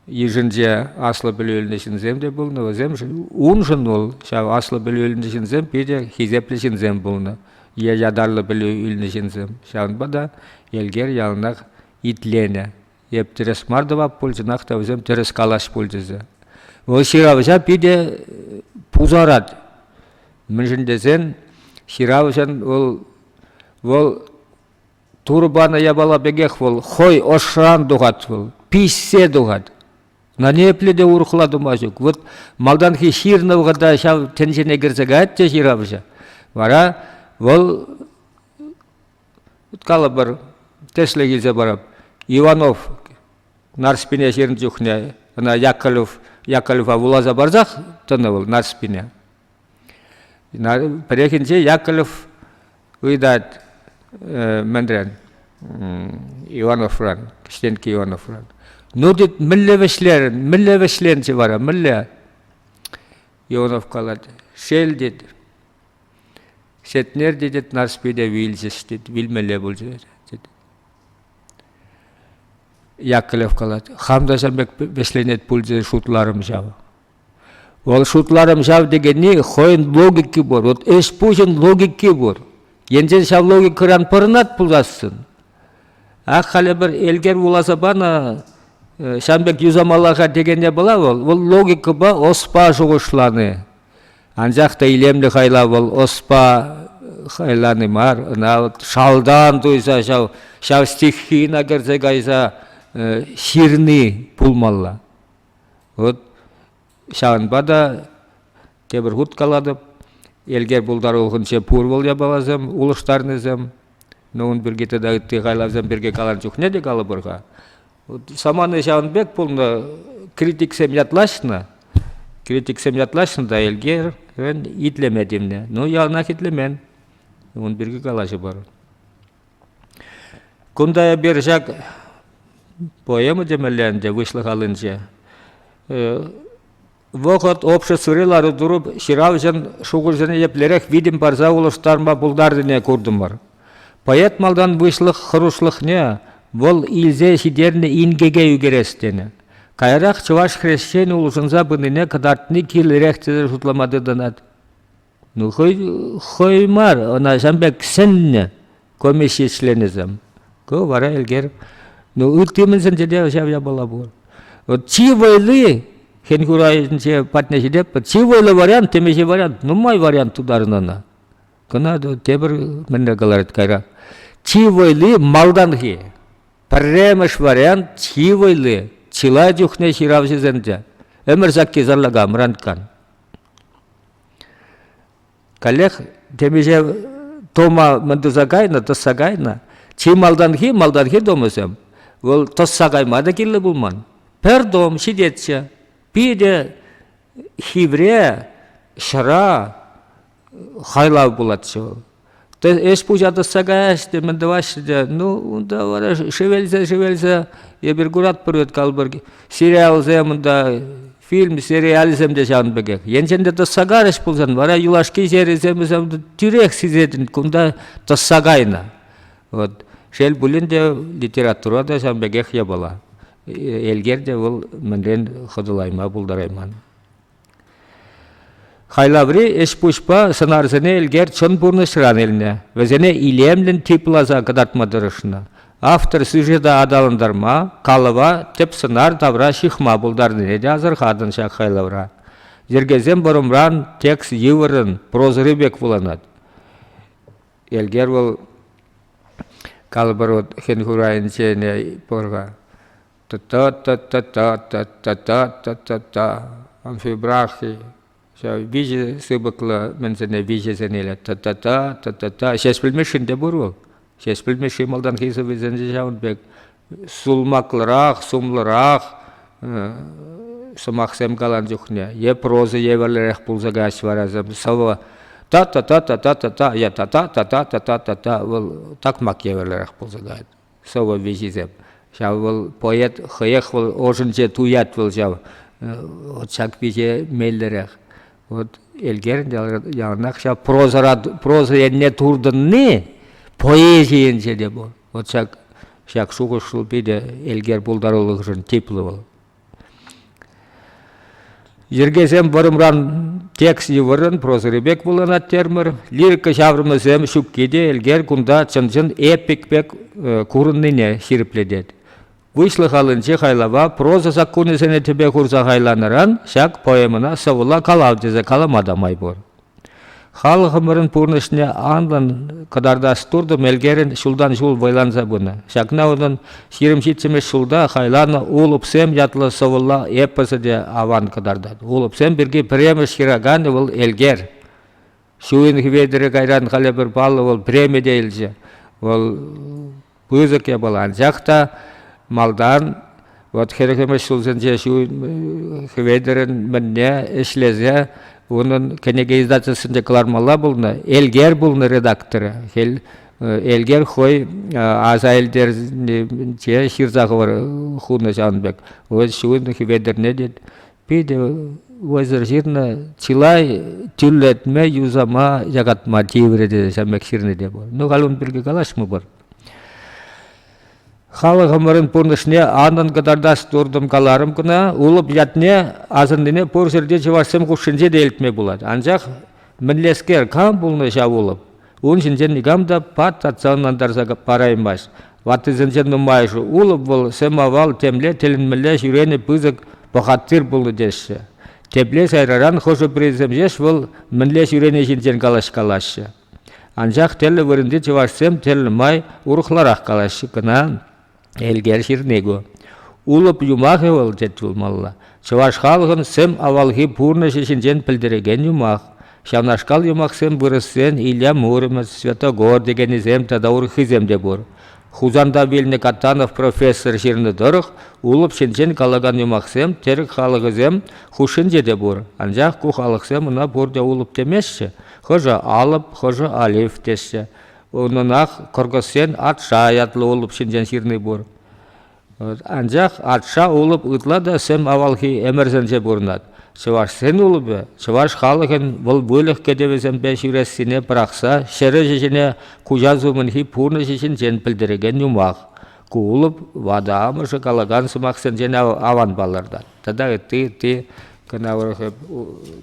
йышӗнче аслӑ пӗлӳ илнӗ ҫынсем те пулнӑ. Вӗсемшӗн уншӑн вӑл ҫав аслӑ пӗлӳ илнӗ ҫынсем питӗ хисеплӗ ҫынсем пулнӑ е ятарлӑ пӗлӳ илнӗ ҫынсем. Ҫавӑнпа та Элкер яланах итленӗ. Эп тӗрӗс мар тӑвап пулчӗнах та вӗсем тӗрӗс калаҫ пулчӗҫӗ. Вӑл ҫыравҫа питӗ пусарать. Мӗншӗн тесен ҫыравҫӑн вӑл, вӑл Турӑ панӑ япала пекех вӑл хӑй ӑшран тухать вӑл, пиҫсе тухать. На ниепле те урӑхла тума ҫук. Вот малтанхи ҫырнӑ вӑхӑта ҫав тӗнчене кӗрсе каять те ҫыравҫӑ. Вара вӑл Уткалӑпӑр, тӗслӗх илсе парап. Иванов Нарспине ҫырнӑ чухне ӑна Яковлев, Яковлева вуласа парсах тӑнӑ вӑл Нарспине. Пӗррехинче Яковлев ыйтать мӗнрен, Ивановран, Кӗҫтенкке Ивановран. Ну тет, мӗнле вӗҫлерӗн, мӗнле вӗҫленчӗ вара, мӗнле? Иванов калать, шел тет, Сетнер тетет, Нарспи те вилчӗҫ, тет, вилмелле пулчӗ, тет. Яковлев калать, хам та ҫан пек вӗҫленет пулчӗ шутларӑм ҫав. Вӑл шутларӑм ҫав текенни хӑйӗн логики пур, вот ӗҫ пуҫӗн логики пур. Енчен ҫав логикӑран пӑрӑнат пулассӑн, ак халӗ пӗр элкер вуласа панӑ, ҫан пек юсамалла-ха текенне пула вӑл, вӑл логикӑпа ӑспа шухӑшлани. Анчах та илемлӗ хайлав вӑл ӑспа хайлани мар, ӑна шалтан туйса ҫав, ҫав стихина кӗрсе кайса ҫырни пулмалла. Вот ҫавӑнпа та тепӗр хут калатӑп, элкер пултарулӑхӗнче пур вӑл япаласем улӑштарнисем. Ну, ун пирки тата ытти хайлавсем пирки каланӑ чухне те калӑпӑр-ха. самана ҫавӑн пек пулнӑ, критиксем ятлаҫнӑ, критиксем ятлаҫнӑ та Элкерӗн итлеме тивнӗ. Ну, яланах итлемен. Ун пирки калаҫӑпӑр. Кунта эпир ҫак поэма темелле ӗнтӗ выҫлӑх аллинче. Вӑхӑт обществӑри лару-тӑру ҫыравҫӑн шухӑшӗсене еплерех витӗм парса улӑштарма пултарнине куртӑмӑр. Поэт малтан выҫлӑх хӑрушлӑхне, вӑл илсе ҫитернӗ инкеке ӳкерес тенӗ. Каярах чӑваш хресченӗ улшӑнса пынине кӑтартни кирлӗрех тесе шутлама тытӑнать. Ну, хӑй, хӑй мар, ӑна ҫан пек сӗннӗ комисси членӗсем. Ку вара Элкер, ну, ытти мӗнсенче те ҫав япала пур. Вот чи вӑйлли хӗн хурайӗнче патне ҫитеппӗр, чи вӑйлӑ вариант, темиҫе вариант, нумай вариант тутарнӑ ӑна. Кӑна тепӗр мӗнле каларӗт кайра. Чи вӑйли малтанхи. Пӗрремӗш вариант чи вӑйли. Чылай чухне ҫыравҫӑсенче. Ӗмӗр сакки сарлака мранккан. Каллех темиҫе тума мӗн туса кайнӑ, тӑсса кайнӑ. Чи малтанхи, малтанхи томӗсем, вӑл тӑсса кайма та кирлӗ пулман. Пӗр том ҫитетчӗ. Питӗ хивре ҫӑра хайлав пулатчӗ вӑл. Эс пуҫа тӑсса каяҫҫӗ те, мӗн тӑваҫҫӗ те. Ну, унта вара шевелсе-шевелсе эпир куратпӑр вӗт калпӑр сериалсем унта, фильм, сериалсем те ҫавӑн пекех. Енчен те тӑсса карӗҫ пулсан, вара юлашки серисем тӳрех сисетӗн, кунта тӑсса кайнӑ. Вот. Шел пулин те, литература та ҫавӑн пекех япала. Элкер те вӑл мӗнрен хӑтӑлайма пултарайман. Хайлаври ӗҫ-пуҫпа сӑнарсене Элкер чӑн пурнӑҫран илнӗ, вӗсене илемлӗн типласа кӑтартма тӑрӑшнӑ. Автор сюжета аталантарма, калӑва тӗп сӑнар тавра ҫыхма пултарнине те асӑрхатӑн ҫак хайлавра. Йӗркесем вӑрӑмран, текст йывӑррӑн, прозӑри пек вуланать. Элкер вӑл калӑпӑр вот хӗн хурайӗнчене пӑр-ха. та-та-та-та-та-та-та-та-та-та амфибрахи виҫӗ сыпӑклӑ мӗнсене виҫӗсен илет та-та-та та-та-та ҫеҫ пӗлмешҫин те пур вӑл ҫеҫ пӗлмешҫи малтанхи сӑввисенче ҫавӑн пек сулмаклӑрах сумлӑрах сӑмахсем каланӑ чухне е проза евӗрлӗрех пулса каҫ вара сӑвӑ та-та-та-та-та-та-та е та-та-та-та-та-та-та вӑл такмак евӗрлӗрех пулса каять сӑвӑ виҫисем. Ҫав вӑл поэт хӑех вӑл ӑшӗнче туять вӑл ҫав. Ҫак виҫе меллӗрех. Вот Элкерӗн яланах ҫав прозӑра проза енне туртӑнни поэзи енче те пур. Вот ҫак ҫак шухӑш шул питӗ Элкер пултарулӑхӗшӗн типлӗ вӑл. Йӗркесем вӑрӑмран текст йывӑррӑн прозӑри пек вуланать термӗр. Лирика ҫаврӑмӗсем ҫукки те Элкер кунта чӑн-чӑн эпик пек э, курӑннине ҫирӗплетет. Выҫлӑх аллинчи хайлава проза саккунӗсене тӗпе хурса хайланӑран ҫак поэмӑна сӑвӑла калав тесе калама та май пур. Халӑхӑмӑрӑн пурнӑҫне анлӑн кӑтартас туртӑм Элкерӗн ҫултан-ҫул вӑйланса пынӑ. Ҫакна унӑн ҫирӗм ҫиччӗмӗш ҫулта хайланӑ «Улӑпсем» ятлӑ сӑвӑлла эпосӗ те аван кӑтартать. Улӑпсем пирки пӗрремӗш ҫыраканӗ вӑл Элкер. Ҫу уйӑхӗ Хӗветӗрӗ кайран халӗ пӗр паллӑ вӑл премие те илчӗ. Вӑл пысӑк япала. Анчах та малтан вот хӗрӗхӗмӗш ҫулсенче ҫу Хветӗрӗн мӗнне ӗҫлесе унӑн кӗнеке издательствинче кӑлармалла пулнӑ. Элгер пулнӑ редакторӗ. Хӗл Элгер хӑй аса илтерсе ҫырса хунӑ ҫавӑн пек. Ун Хветӗрне те Питӗ вӑйсӑр ҫырнӑ. Чылай тӳрлетме, юсама, якатма тиврӗ те ҫамек ҫырнӑ те пур. Ну, халь ун пирки калаҫмӑпӑр. Халӑхӑмӑрӑн пурнӑҫне анӑн кӑтартас туртӑм каларӑм кӑна. Улӑп ятне асӑннине пур ҫӗрте чӑвашсем хушшинче те илтме пулать. Анчах мӗнлескер, кам пулнӑ ҫав улӑп? Ун ҫинчен никам та пат татса ӑнлантарса параймасть. Ваттисенчен нумайӑшӗ улӑп вӑл сӗм-авал темле тӗлӗнмелле ҫӳренӗ пысӑк пӑхаттир пулнӑ теҫҫӗ. Тепле сайраран хӑшӗ-пӗрисем ҫеҫ вӑл мӗнле ҫӳрени ҫинчен калаҫкалаҫҫӗ. Анчах тӗрлӗ вырӑнти чӑвашсем тӗрлӗ май урӑхларах калаҫҫӗ кӑна. Элкер Ширнигу. Улӑп юмахӗ вӑл тет пулмалла. Чӑваш халӑхӑн сӗм авалхи пурнӑҫӗ ҫинчен пӗлтерекен юмах. Ҫавнашкал юмахсем вырӑссен Илья Муромец, Святогор текенӗсем тата урӑххисем те пур. Хусанта вилнӗ Катанов профессор ҫырнӑ тӑрӑх улӑп ҫинчен калакан юмахсем тӗрӗк халӑхӗсем хушшинче те пур. Анчах ку халӑхсем ӑна пурте улӑп темеҫҫӗ. Хӑшӗ алӑп, хӑшӗ алиф теҫҫӗ. Унӑнах Кӑркӑсен Атша ятлӑ улӑп ҫинчен ҫырни пур. Анчах Атша улӑп ытла та сӗм авалхи ӗмӗрсенче пурӑнать. Чӑвашсен улӑпӗ чӑваш халӑхӗн вӑл выльӑх кӗтӗвӗсемпе ҫӳрессине пӑрахса ҫӗр ӗҫӗ ҫине куҫас умӗнхи пурнӑҫӗ ҫинчен пӗлтерекен юмах. Ку улӑп ватӑ амӑшӗ калакан сӑмахсенчен аван палӑртать. Тата ытти ытти кӑна урӑх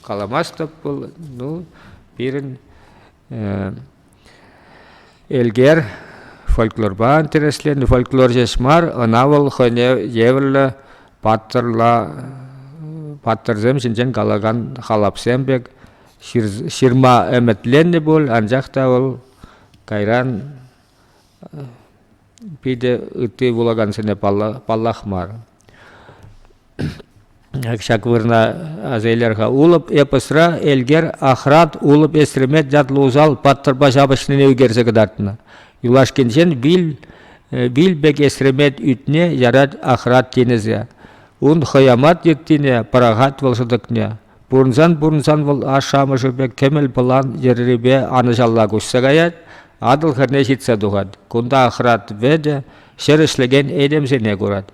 каламастӑп пул. Ну, пирӗн Элкер фольклорпа интересленӗ. Фольклор ҫеҫ мар, ӑна вӑл хӑйне евӗрлӗ паттӑрла паттӑрсем ҫинчен калакан халапсем пек ҫырма ӗмӗтленнӗ пуль, анчах та вӑл кайран питӗ ытти вулакансене паллах мар. Ҫак вырӑна аса илер-ха. Улӑп эпосра Элкер Ахрат Улӑп Эстремет ятлӑ усал паттӑрпа ҫапӑҫнине ӳкерсе кӑтартнӑ. Юлашкинчен вил, э, вил пек эстремет ӳтне ярать Ахрат тинӗсе. Ун хӑямат йыттине пӑрахать вӑл шӑтӑкне. Пурӑнсан-пурӑнсан вӑл ашшӗ-амӑшӗ пек кӗмӗл пӑлан йӗррипе анӑҫалла куҫса каять, Атӑл хӗрне ҫитсе тухать. Кунта Ахрат Вӗтӗ ҫӗр ӗҫлекен этемсене курать.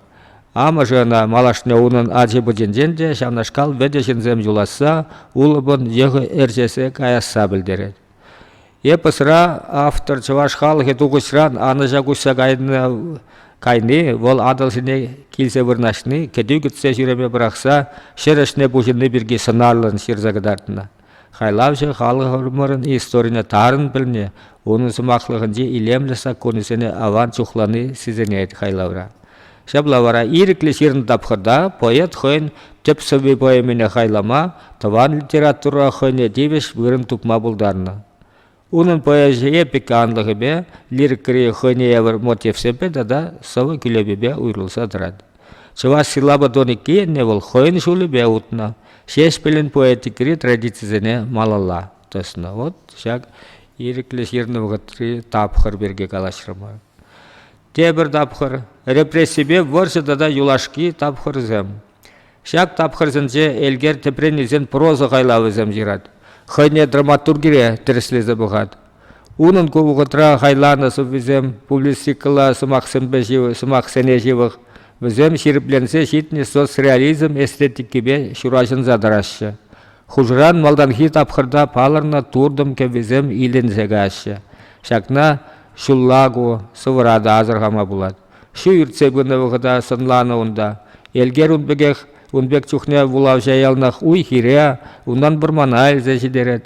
Амӑшӗ ӑна малашне унӑн ачи-пӑчинчен те ҫавнашкал вӗтӗ ҫынсем юласса, улӑпӑн йӑхӗ ӗрчесе каясса пӗлтерет. Эпосра автор чӑваш халӑхӗ тухӑҫран анӑҫа куҫса кайни, вӑл Атӑлҫине килсе вырнаҫни, кӗтӳ кӗтсе ҫӳреме пӑрахса ҫӗр ӗҫне пуҫӑнни пирки сӑнарлӑн ҫырса кӑтартнӑ. Хайлавҫӑ халӑхӑмӑрӑн историне тарӑн пӗлни, унӑн сӑмахлӑхӗнчи илемлӗ саккунӗсене аван чухлани сисӗнет хайлавра. Ҫапла вара ирӗклӗ ҫырнӑ тапхӑрта поэт хӑйӗн тӗп сӑвви-поэмине хайлама, тӑван литература хӑйне тивӗҫ вырӑн тупма пултарнӑ. Унӑн поэзие пиканлӑхӗпе, лирикӑри хӑйне евӗр мотивсемпе тата сӑвӑ-кӳлепепе уйрӑлса тӑрать. Чӑваш силлабӗ тоникки енне вӑл хӑйӗн ҫулӗпе утнӑ, Ҫеҫпӗлӗн поэтикӑри традицисене малалла тӑснӑ. Вот ҫак ирӗклӗ ҫырнӑ вӑхӑтри тапхӑр пирки калаҫрӑмӑр. тепӗр тапхӑр, репрессипе вӑрҫӑ тата юлашки тапхӑрсем. Ҫак тапхӑрсенче Элкер тӗпрен илсен проза хайлавӗсем ҫырать, хӑйне драматургире тӗрӗслесе пӑхать. Унӑн ку вӑхӑтра хайланӑ сӑввисем публицистикӑлла сӑмахсемпе ҫывӑх, сӑмахсене ҫывӑх, вӗсем ҫирӗпленсе ҫитнӗ соцреализм эстетикипе ҫураҫӑнса тӑраҫҫӗ. Хушӑран малтанхи тапхӑрта палӑрнӑ туртӑм кӗввисем иленсе каҫҫӗ. Ҫакна ҫулла ку сӑвӑра та асӑрхама пулать. Ҫу иртсе пынӑ вӑхӑта сӑнланӑ унта. Элкер ун пекех ун пек чухне вулавҫа яланах уй-хире, унтан вӑрмана илсе ҫитерет.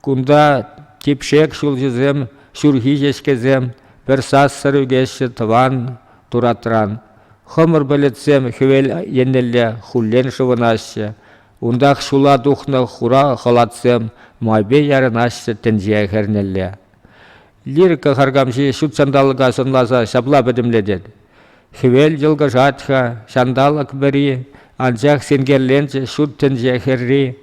Кунта типшек ҫулҫӑсем, ҫурхи ҫеҫкесем пӗр сассӑр ӳкеҫҫӗ тӑван туратран. Хӑмӑр пӗлӗтсем хӗвел еннелле хуллен шӑвӑнаҫҫӗ. Унтах ҫула тухнӑ хура хӑлатсем майпе ярӑнаҫҫӗ тӗнче хӗрнелле. Лирика харкамҫи ҫут ҫанталӑка сӑнласа ҫапла пӗтӗмлетет. Хӗвел йӑлкӑшать-ха, ҫанталӑк вӗри, анчах синкерленчӗ ҫут тӗнче хӗрри.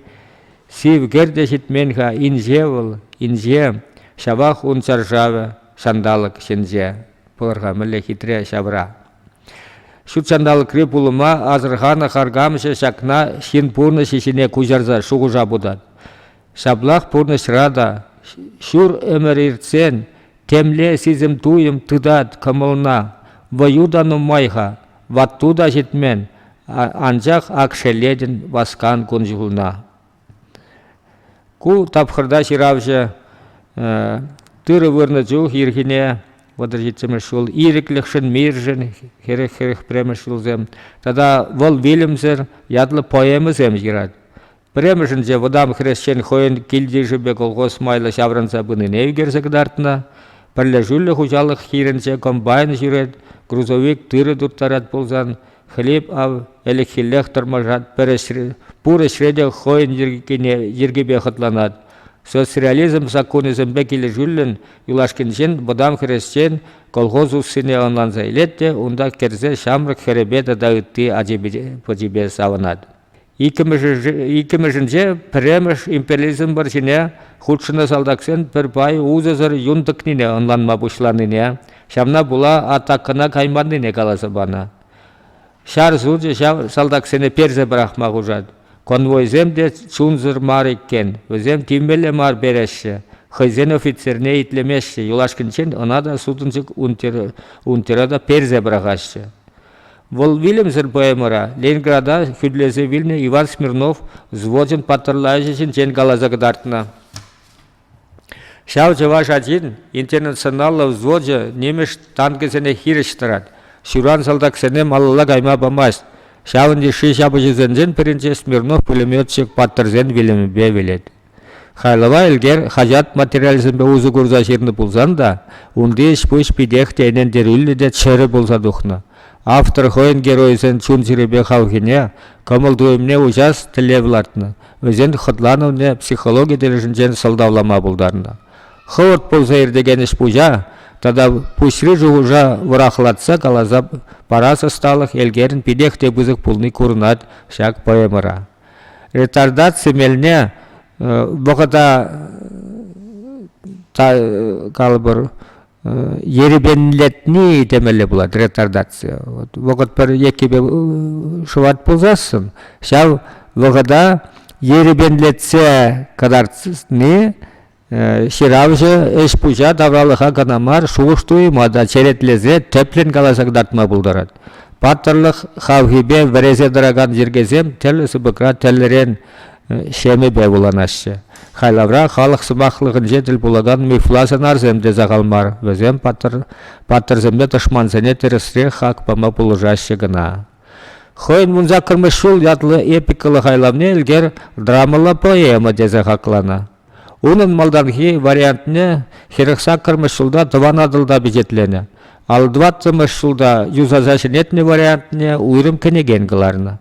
Сив кӗр те ҫитмен-ха инҫе вӑл, инҫе, ҫавах ун чаршавӗ, ҫанталӑк ҫинче. Пӑлӑрха мӗнле хитре ҫавра. Ҫут ҫанталӑкри пулӑма асӑрханӑ харкамҫӑ ҫакна ҫын пурнӑҫӗ ҫине куҫарса шухӑша путать. Ҫаплах пурнӑҫра та ҫур ӗмӗр иртсен темле сисӗм-туйӑм тытать кӑмӑлна. Вӑю та нумай-ха, ватту та ҫитмен, анчах ак шеллетӗн васкан кун-ҫулна. Ку тапхӑрта ҫыравҫӑ тырӑ вырнӑ чух ирхине вӑтӑр ҫиччӗмӗш ҫул ирӗклӗхшӗн, миршӗн хӗрех-хӗрех пӗрремӗш ҫулсем тата вӑл вилӗмсӗр ятлӑ поэмӑсем ҫырать. Пӗрремӗшӗнче вӑтам хресчен хӑйӗн кил-йышӗпе колхоз майлӑ ҫаврӑнса пынине ӳкерсе кӑтартнӑ. Пӗрлешӳллӗ хуҫалӑх хирӗнче комбайн ҫӳрет, грузовик тырӑ турттарать пулсан, хлеб ав ӗлӗкхиллех тӑрмашат, пур ӗҫре те хӑйӗн йӗркипе хӑтланать. Социализм саккунӗсемпе килӗшӳллӗн юлашкинчен вӑтам хресчен колхоз уссине ӑнланса илет те унта кӗрсе ҫамрӑк хӗрӗпе тата ытти ачипе савӑнать. Иккӗмӗшӗнче пӗрремӗш империализмӑр ҫине хутшӑннӑ салтаксен пӗр пай усӑсӑр юн тӑкнине ӑнланма пуҫланине, ҫавна пула атакӑна кайманнине каласа панӑ. Ҫар сучӗ ҫав салтаксене персе пӑрахма хушать. Конвойсем те чунсӑр мар иккен, вӗсем тимлӗ мар переҫҫӗ, хӑйсен офицерне итлемеҫҫӗ, юлашкинчен ӑна та сутӑнчӑк унтера та персе пӑрахаҫҫӗ. Вӑл вилӗмсӗр поэмӑра Ленинграда хӳтӗлесе вилнӗ Иван Смирнов взвочӗн паттӑрла ӗҫӗ ҫинчен каласа кӑтартнӑ. Ҫав чӑваш ачин интернационаллӑ взвочӗ нимӗҫ танкӗсене хирӗҫ тӑрать, ҫуран салтаксене малалла кайма памасть. Ҫавӑн йышши ҫапӑҫусенчен пӗринче Смирнов пулеметчик паттӑрсен вилӗмӗпе вилет. Хайлава Элкер хаҫат материалӗсемпе усӑ курса ҫырнӑ пулсан та унти ӗҫ-пуҫ питех те ӗнентерӳллӗ те чӗрӗ пулса тухнӑ. Автор хӑйӗн геройӗсен чун-чӗрипе хавхине, кӑмӑл-туйӑмне уҫас тӗллев лартнӑ, вӗсен хӑтланӑвне психологи тӗлӗшӗнчен сӑлтавлама пултарнӑ. Хӑвӑрт пулса иртекен ӗҫ-пуҫа тата пуҫри шухӑша вӑрахлатса каласа парас ӑсталӑх Элкерӗн питех те пысӑк пулни курӑнать ҫак поэмӑра. ретардации мелне вӑхӑта калӑпӑр ерепенлетни темелле пулать ретардация вӑхӑт пӗр еккипе шӑвать пулсассӑн ҫав вӑхӑта ерепенлетсе кӑтартни Ҫыравҫӑ ӗҫ-пуҫа тавралӑха кӑна мар, шухӑш-туйӑма та черетлесе тӗплӗн каласа кӑтартма пултарать. Паттӑрлӑх хавхипе вӗресе тӑракан йӗркесем тӗрлӗ сыпӑкра тӗрлӗрен ҫемӗпе вуланаҫҫӗ. Хайлавра халӑх сӑмахлӑхӗнче тӗл пулакан мифла сӑнарсем те сахал мар. Вӗсем паттӑр, паттӑрсемпе тӑшмансене тӗрӗсрех хак пама пулӑшаҫҫӗ кӑна. Хӑйӗн «Вунсаккӑрмӗш ҫул» ятлӑ эпикӑллӑ хайлавне Элкер драмӑлла поэма тесе хакланӑ. Унӑн малтанхи вариантне хӗрӗх саккӑрмӗш ҫулта Тӑван Атӑлта пичетленӗ, алтӑваттӑмӗш ҫулта юсаса ҫӗнетнӗ вариантне уйрӑм кӗнекен кӑларнӑ.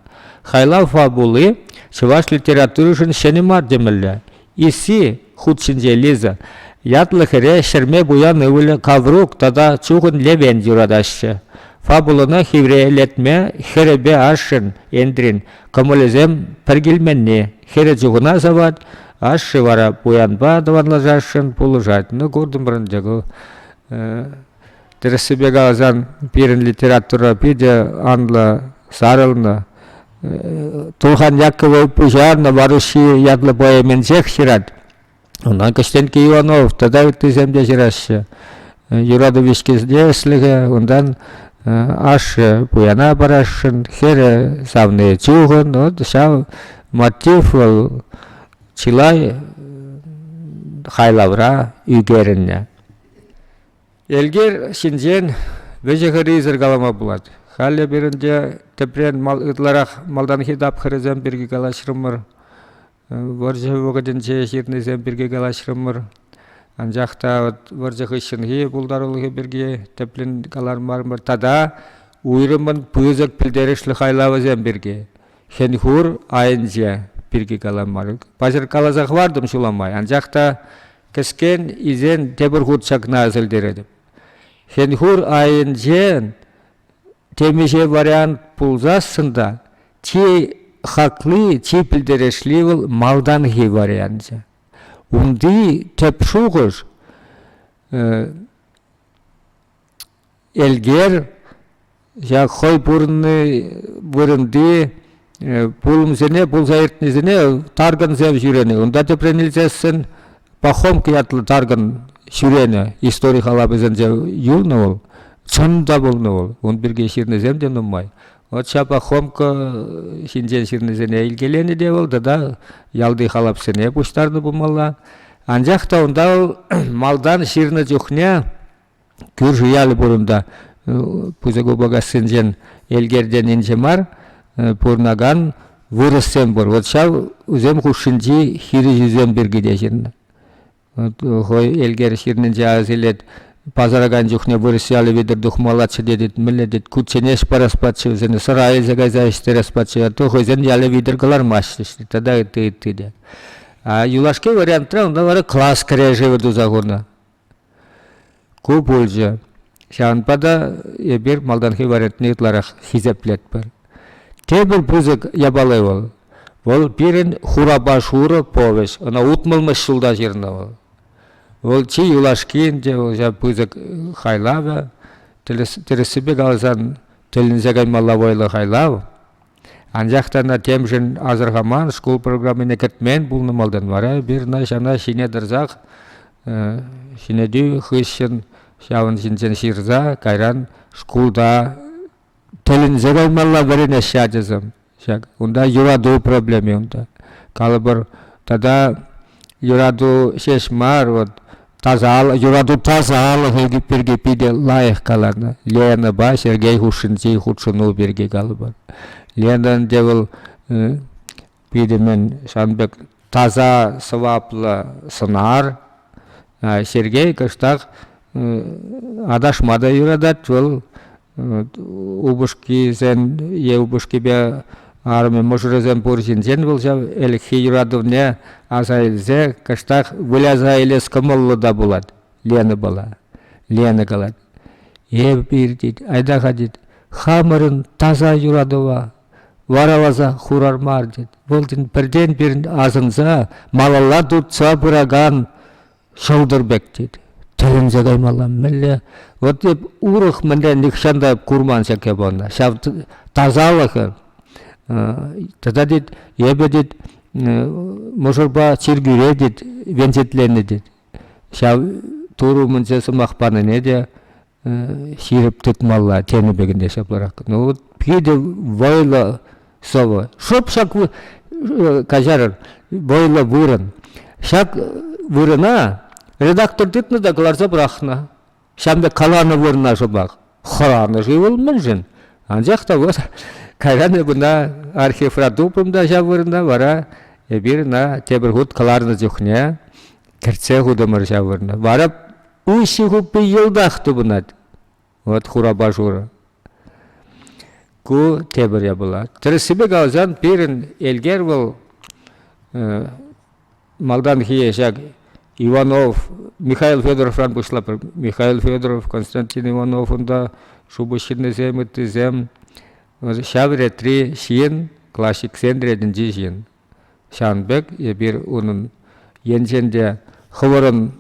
Хайлав фабули чӑваш литературишӗн ҫӗнӗ мар темелле. Исси хут ҫинче Лиза ятлӑ хӗре ҫӗрме пуян ывӑлӗ Каврук тата чухӑн Левен юратаҫҫӗ. Фабулӑна хиврелетме хӗрӗпе ашшӗн Эндрин кӑмӑлӗсем пӗр килменни. Хӗрӗ чухӑна сӑвать, ашшӗ вара пуянпа тӑванлашасшӑн пулӑшать. Ну, куртӑмӑрӑн те ку. Тӗрӗссипе каласан, пирӗн литература питӗ анлӑ сарӑлнӑ. Тулхан Якова пуҫарнӑ «Вороши» ятлӑ поэминчех ҫырать. Ӑна Кӗҫтенкке Иванов тата ыттисем те ҫыраҫҫӗ. Юрату вичкисене ӗҫлӗхе, унтан ашшӗ пуяна парасшӑн, хӗрӗ савни чухӑн. От ҫав мотив вӑл чылай хайлавра ӳкерӗннӗ. Элкер ҫинчен вӗҫӗ-хӗррисӗр калама пулать. Халӗ пирӗнте тӗпрен мал, ытларах малтанхи тапхӑрӗсем пирки калаҫрӑмӑр. Вӑрҫӑ вӑхӑтӗнче ҫырнисем пирки калаҫрӑмӑр. Анчах та вӑрҫӑ хыҫҫӑнхи пултарулӑхӗ пирки тӗплӗн калармарӑмӑр тата уйрӑммӑн пысӑк пӗлтерӗшлӗ хайлавӗсем пирки, хӗн-хур айӗнче пирки каламарӑм. Паҫӑр каласа хӑвартӑм ҫула май, анчах та кӗскен илсен тепӗр хут ҫакна асилтеретӗп. Хӗн-хур айӗнчен Темиҫе вариант пулсассӑн та чи хакли, чи пӗлтерешли вӑл малтанхи варианчӗ. Унти тӗп шухӑш Элгер ҫак хӑй пурӑнни вырӑнти пулӑмсене пулса иртнисене тарган сев ҫӳренӗ. Унта тепрен илсессӗн Пахомки ятлӑ тарган ҫӳренӗ. Истори халапӗсенче юлнӑ вӑл. Чӑн та пулнӑ вӑл. Ун пирки ҫырнисем те нумай. Вот ҫа Пахомка ҫинчен ҫырнисене илкеленӗ те вӑл тата ялти халапсене пуҫтарнӑ пулмалла. Анчах та унта вӑл малтан ҫырнӑ чухне кӳрши ялӗ пур унта, пысӑк Упӑкассинчен Элкерденинче мар, пурӑнакан вырӑссем пур. Вот ҫав усем хушшинчи хирӗҫӳсем пирки те ҫырнӑ. хӑй Элкер ҫырнинче авас илет, пасаракан чухне вырӑс ялӗ витӗр тухмаллаччӗ тетет, мӗнле тет, кучченеҫ парас пачче, вӗсене сӑра илсе кайса ӗҫтерес пачче, а то хӑйсен ялӗ витӗр кӑлармаҫҫӗ, тата ытти ытти те. А юлашки вариантра унта вара класс кӗрешӗвӗ туса хунӑ. Ку пулчӗ. Ҫавӑнпа та эпир малтанхи вариантне ытларах хисеплетпӗр. Тепӗр пысӑк япала вӑл. Вӑл пирӗн хурапа шурӑ повеҫ. Ӑна утмӑлмӗш ҫулта ҫырнӑ вӑл. Вӑл чи юлашки ӗнтӗ вӑл ҫав пысӑк хайлавӗ. Тӗрӗс, тӗрӗссипе каласан, тӗлӗнсе каймалла вӑйлӑ хайлав. Анчах та темшӗн асӑрхаман, шкул программине кӗтмен пулнӑ малтан вара пирна ҫана ҫине тӑрсах ҫӗнетӳ хыҫҫӑн ҫавӑн ҫинчен ҫырса кайран шкулта тӗлӗнсе каймалла вӗренеҫҫӗ ачасем. Ҫак унта юрату проблеми унта. Калӑпӑр тата юрату ҫеҫ мар, вот тасалӑх, юрату тасалӑхӗ пирки питӗ лайӑх каланӑ. Ленӑпа Сергей хушшинчи хутшӑну пирки калӑпӑр. Ленӑн те вӑл питӗ мӗн сан пек таса сӑваплӑ сӑнар. Сергей кӑштах аташма та юратать вӑл упӑшкисен е упӑшкипе арӑмӗ мӑшӑрӗсем пур ҫынсен вӑл ҫав ӗлӗкхи юратӑвне аса илсе кӑштах выляса илес кӑмӑллӑ та пулать Ленӑпала. Лена калать, эп пир тет, айта-ха тет, хамӑрӑн таса юратӑва вараласа хурар мар тет. Вӑл тен пӗртен-пирӗн асӑнса малалла туртса пыракан Шӑлтӑр пек тет. Тӗлӗнсе каймалла мӗнле? Вот эп урӑх мӗнле нихҫан та курман ҫӗке панна. Ҫав тасалӑхӑр. Тата тет, эпӗ тет, мӑшӑрпа чиркӳре тет, венчетленӗ тет. Ҫав Турӑ умӗнче сӑмах панине те ҫирӗп тытмалла тенӗ пек ӗнтӗ ҫапларах. Ну вот питӗ вӑйлӑ сӑвӑ. Шӑп ҫак каҫарӑр, вӑйлӑ вырӑн. Ҫак вырӑна редактор тытнӑ та кӑларса пӑрахнӑ. Ҫам пек каланӑ вырӑна шӑпах. Хӑранӑ-ши вӑл мӗншӗн? Анчах та вот кайран куна архивра тупрӑм та ҫав вырӑна вара эпир ӑна тепӗр хут кӑларнӑ чухне кӗртсе хутӑмӑр ҫав вырӑна. Вара Уҫҫи хуппи йӑлтах тупӑнать. Вӑт хурапа шурӑ. Ку тепӗр япала. Тӗрӗссипе каласан, пирӗн Элкер вӑл малтанхи ҫак Иванов, Михаил Федоровран пуҫлапӑр. Михаил Федоров, Константин Иванов унта шупӑш ҫыннисем, ыттисем. Ҫав ретри ҫын, классиксен ретӗнчи ҫын. Ҫавӑн пек эпир унӑн енчен те хӑвӑрӑн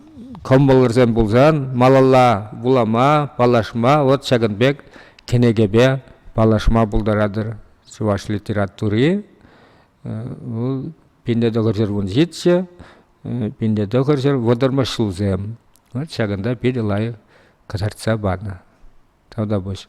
кӑмӑлӑрсем пулсан малалла вулама, паллашма вот ҫакӑн пек кӗнекепе паллашма пултаратӑр. Чӑваш литератури вӑл пинле тӑхӑрҫӑр вун ҫиччӗ, пинле тӑхӑрҫӑр вӑтӑрмӗш ҫулсем. Вот ҫакӑнта питӗ лайӑх кӑтартса панӑ. Тавтапуҫ.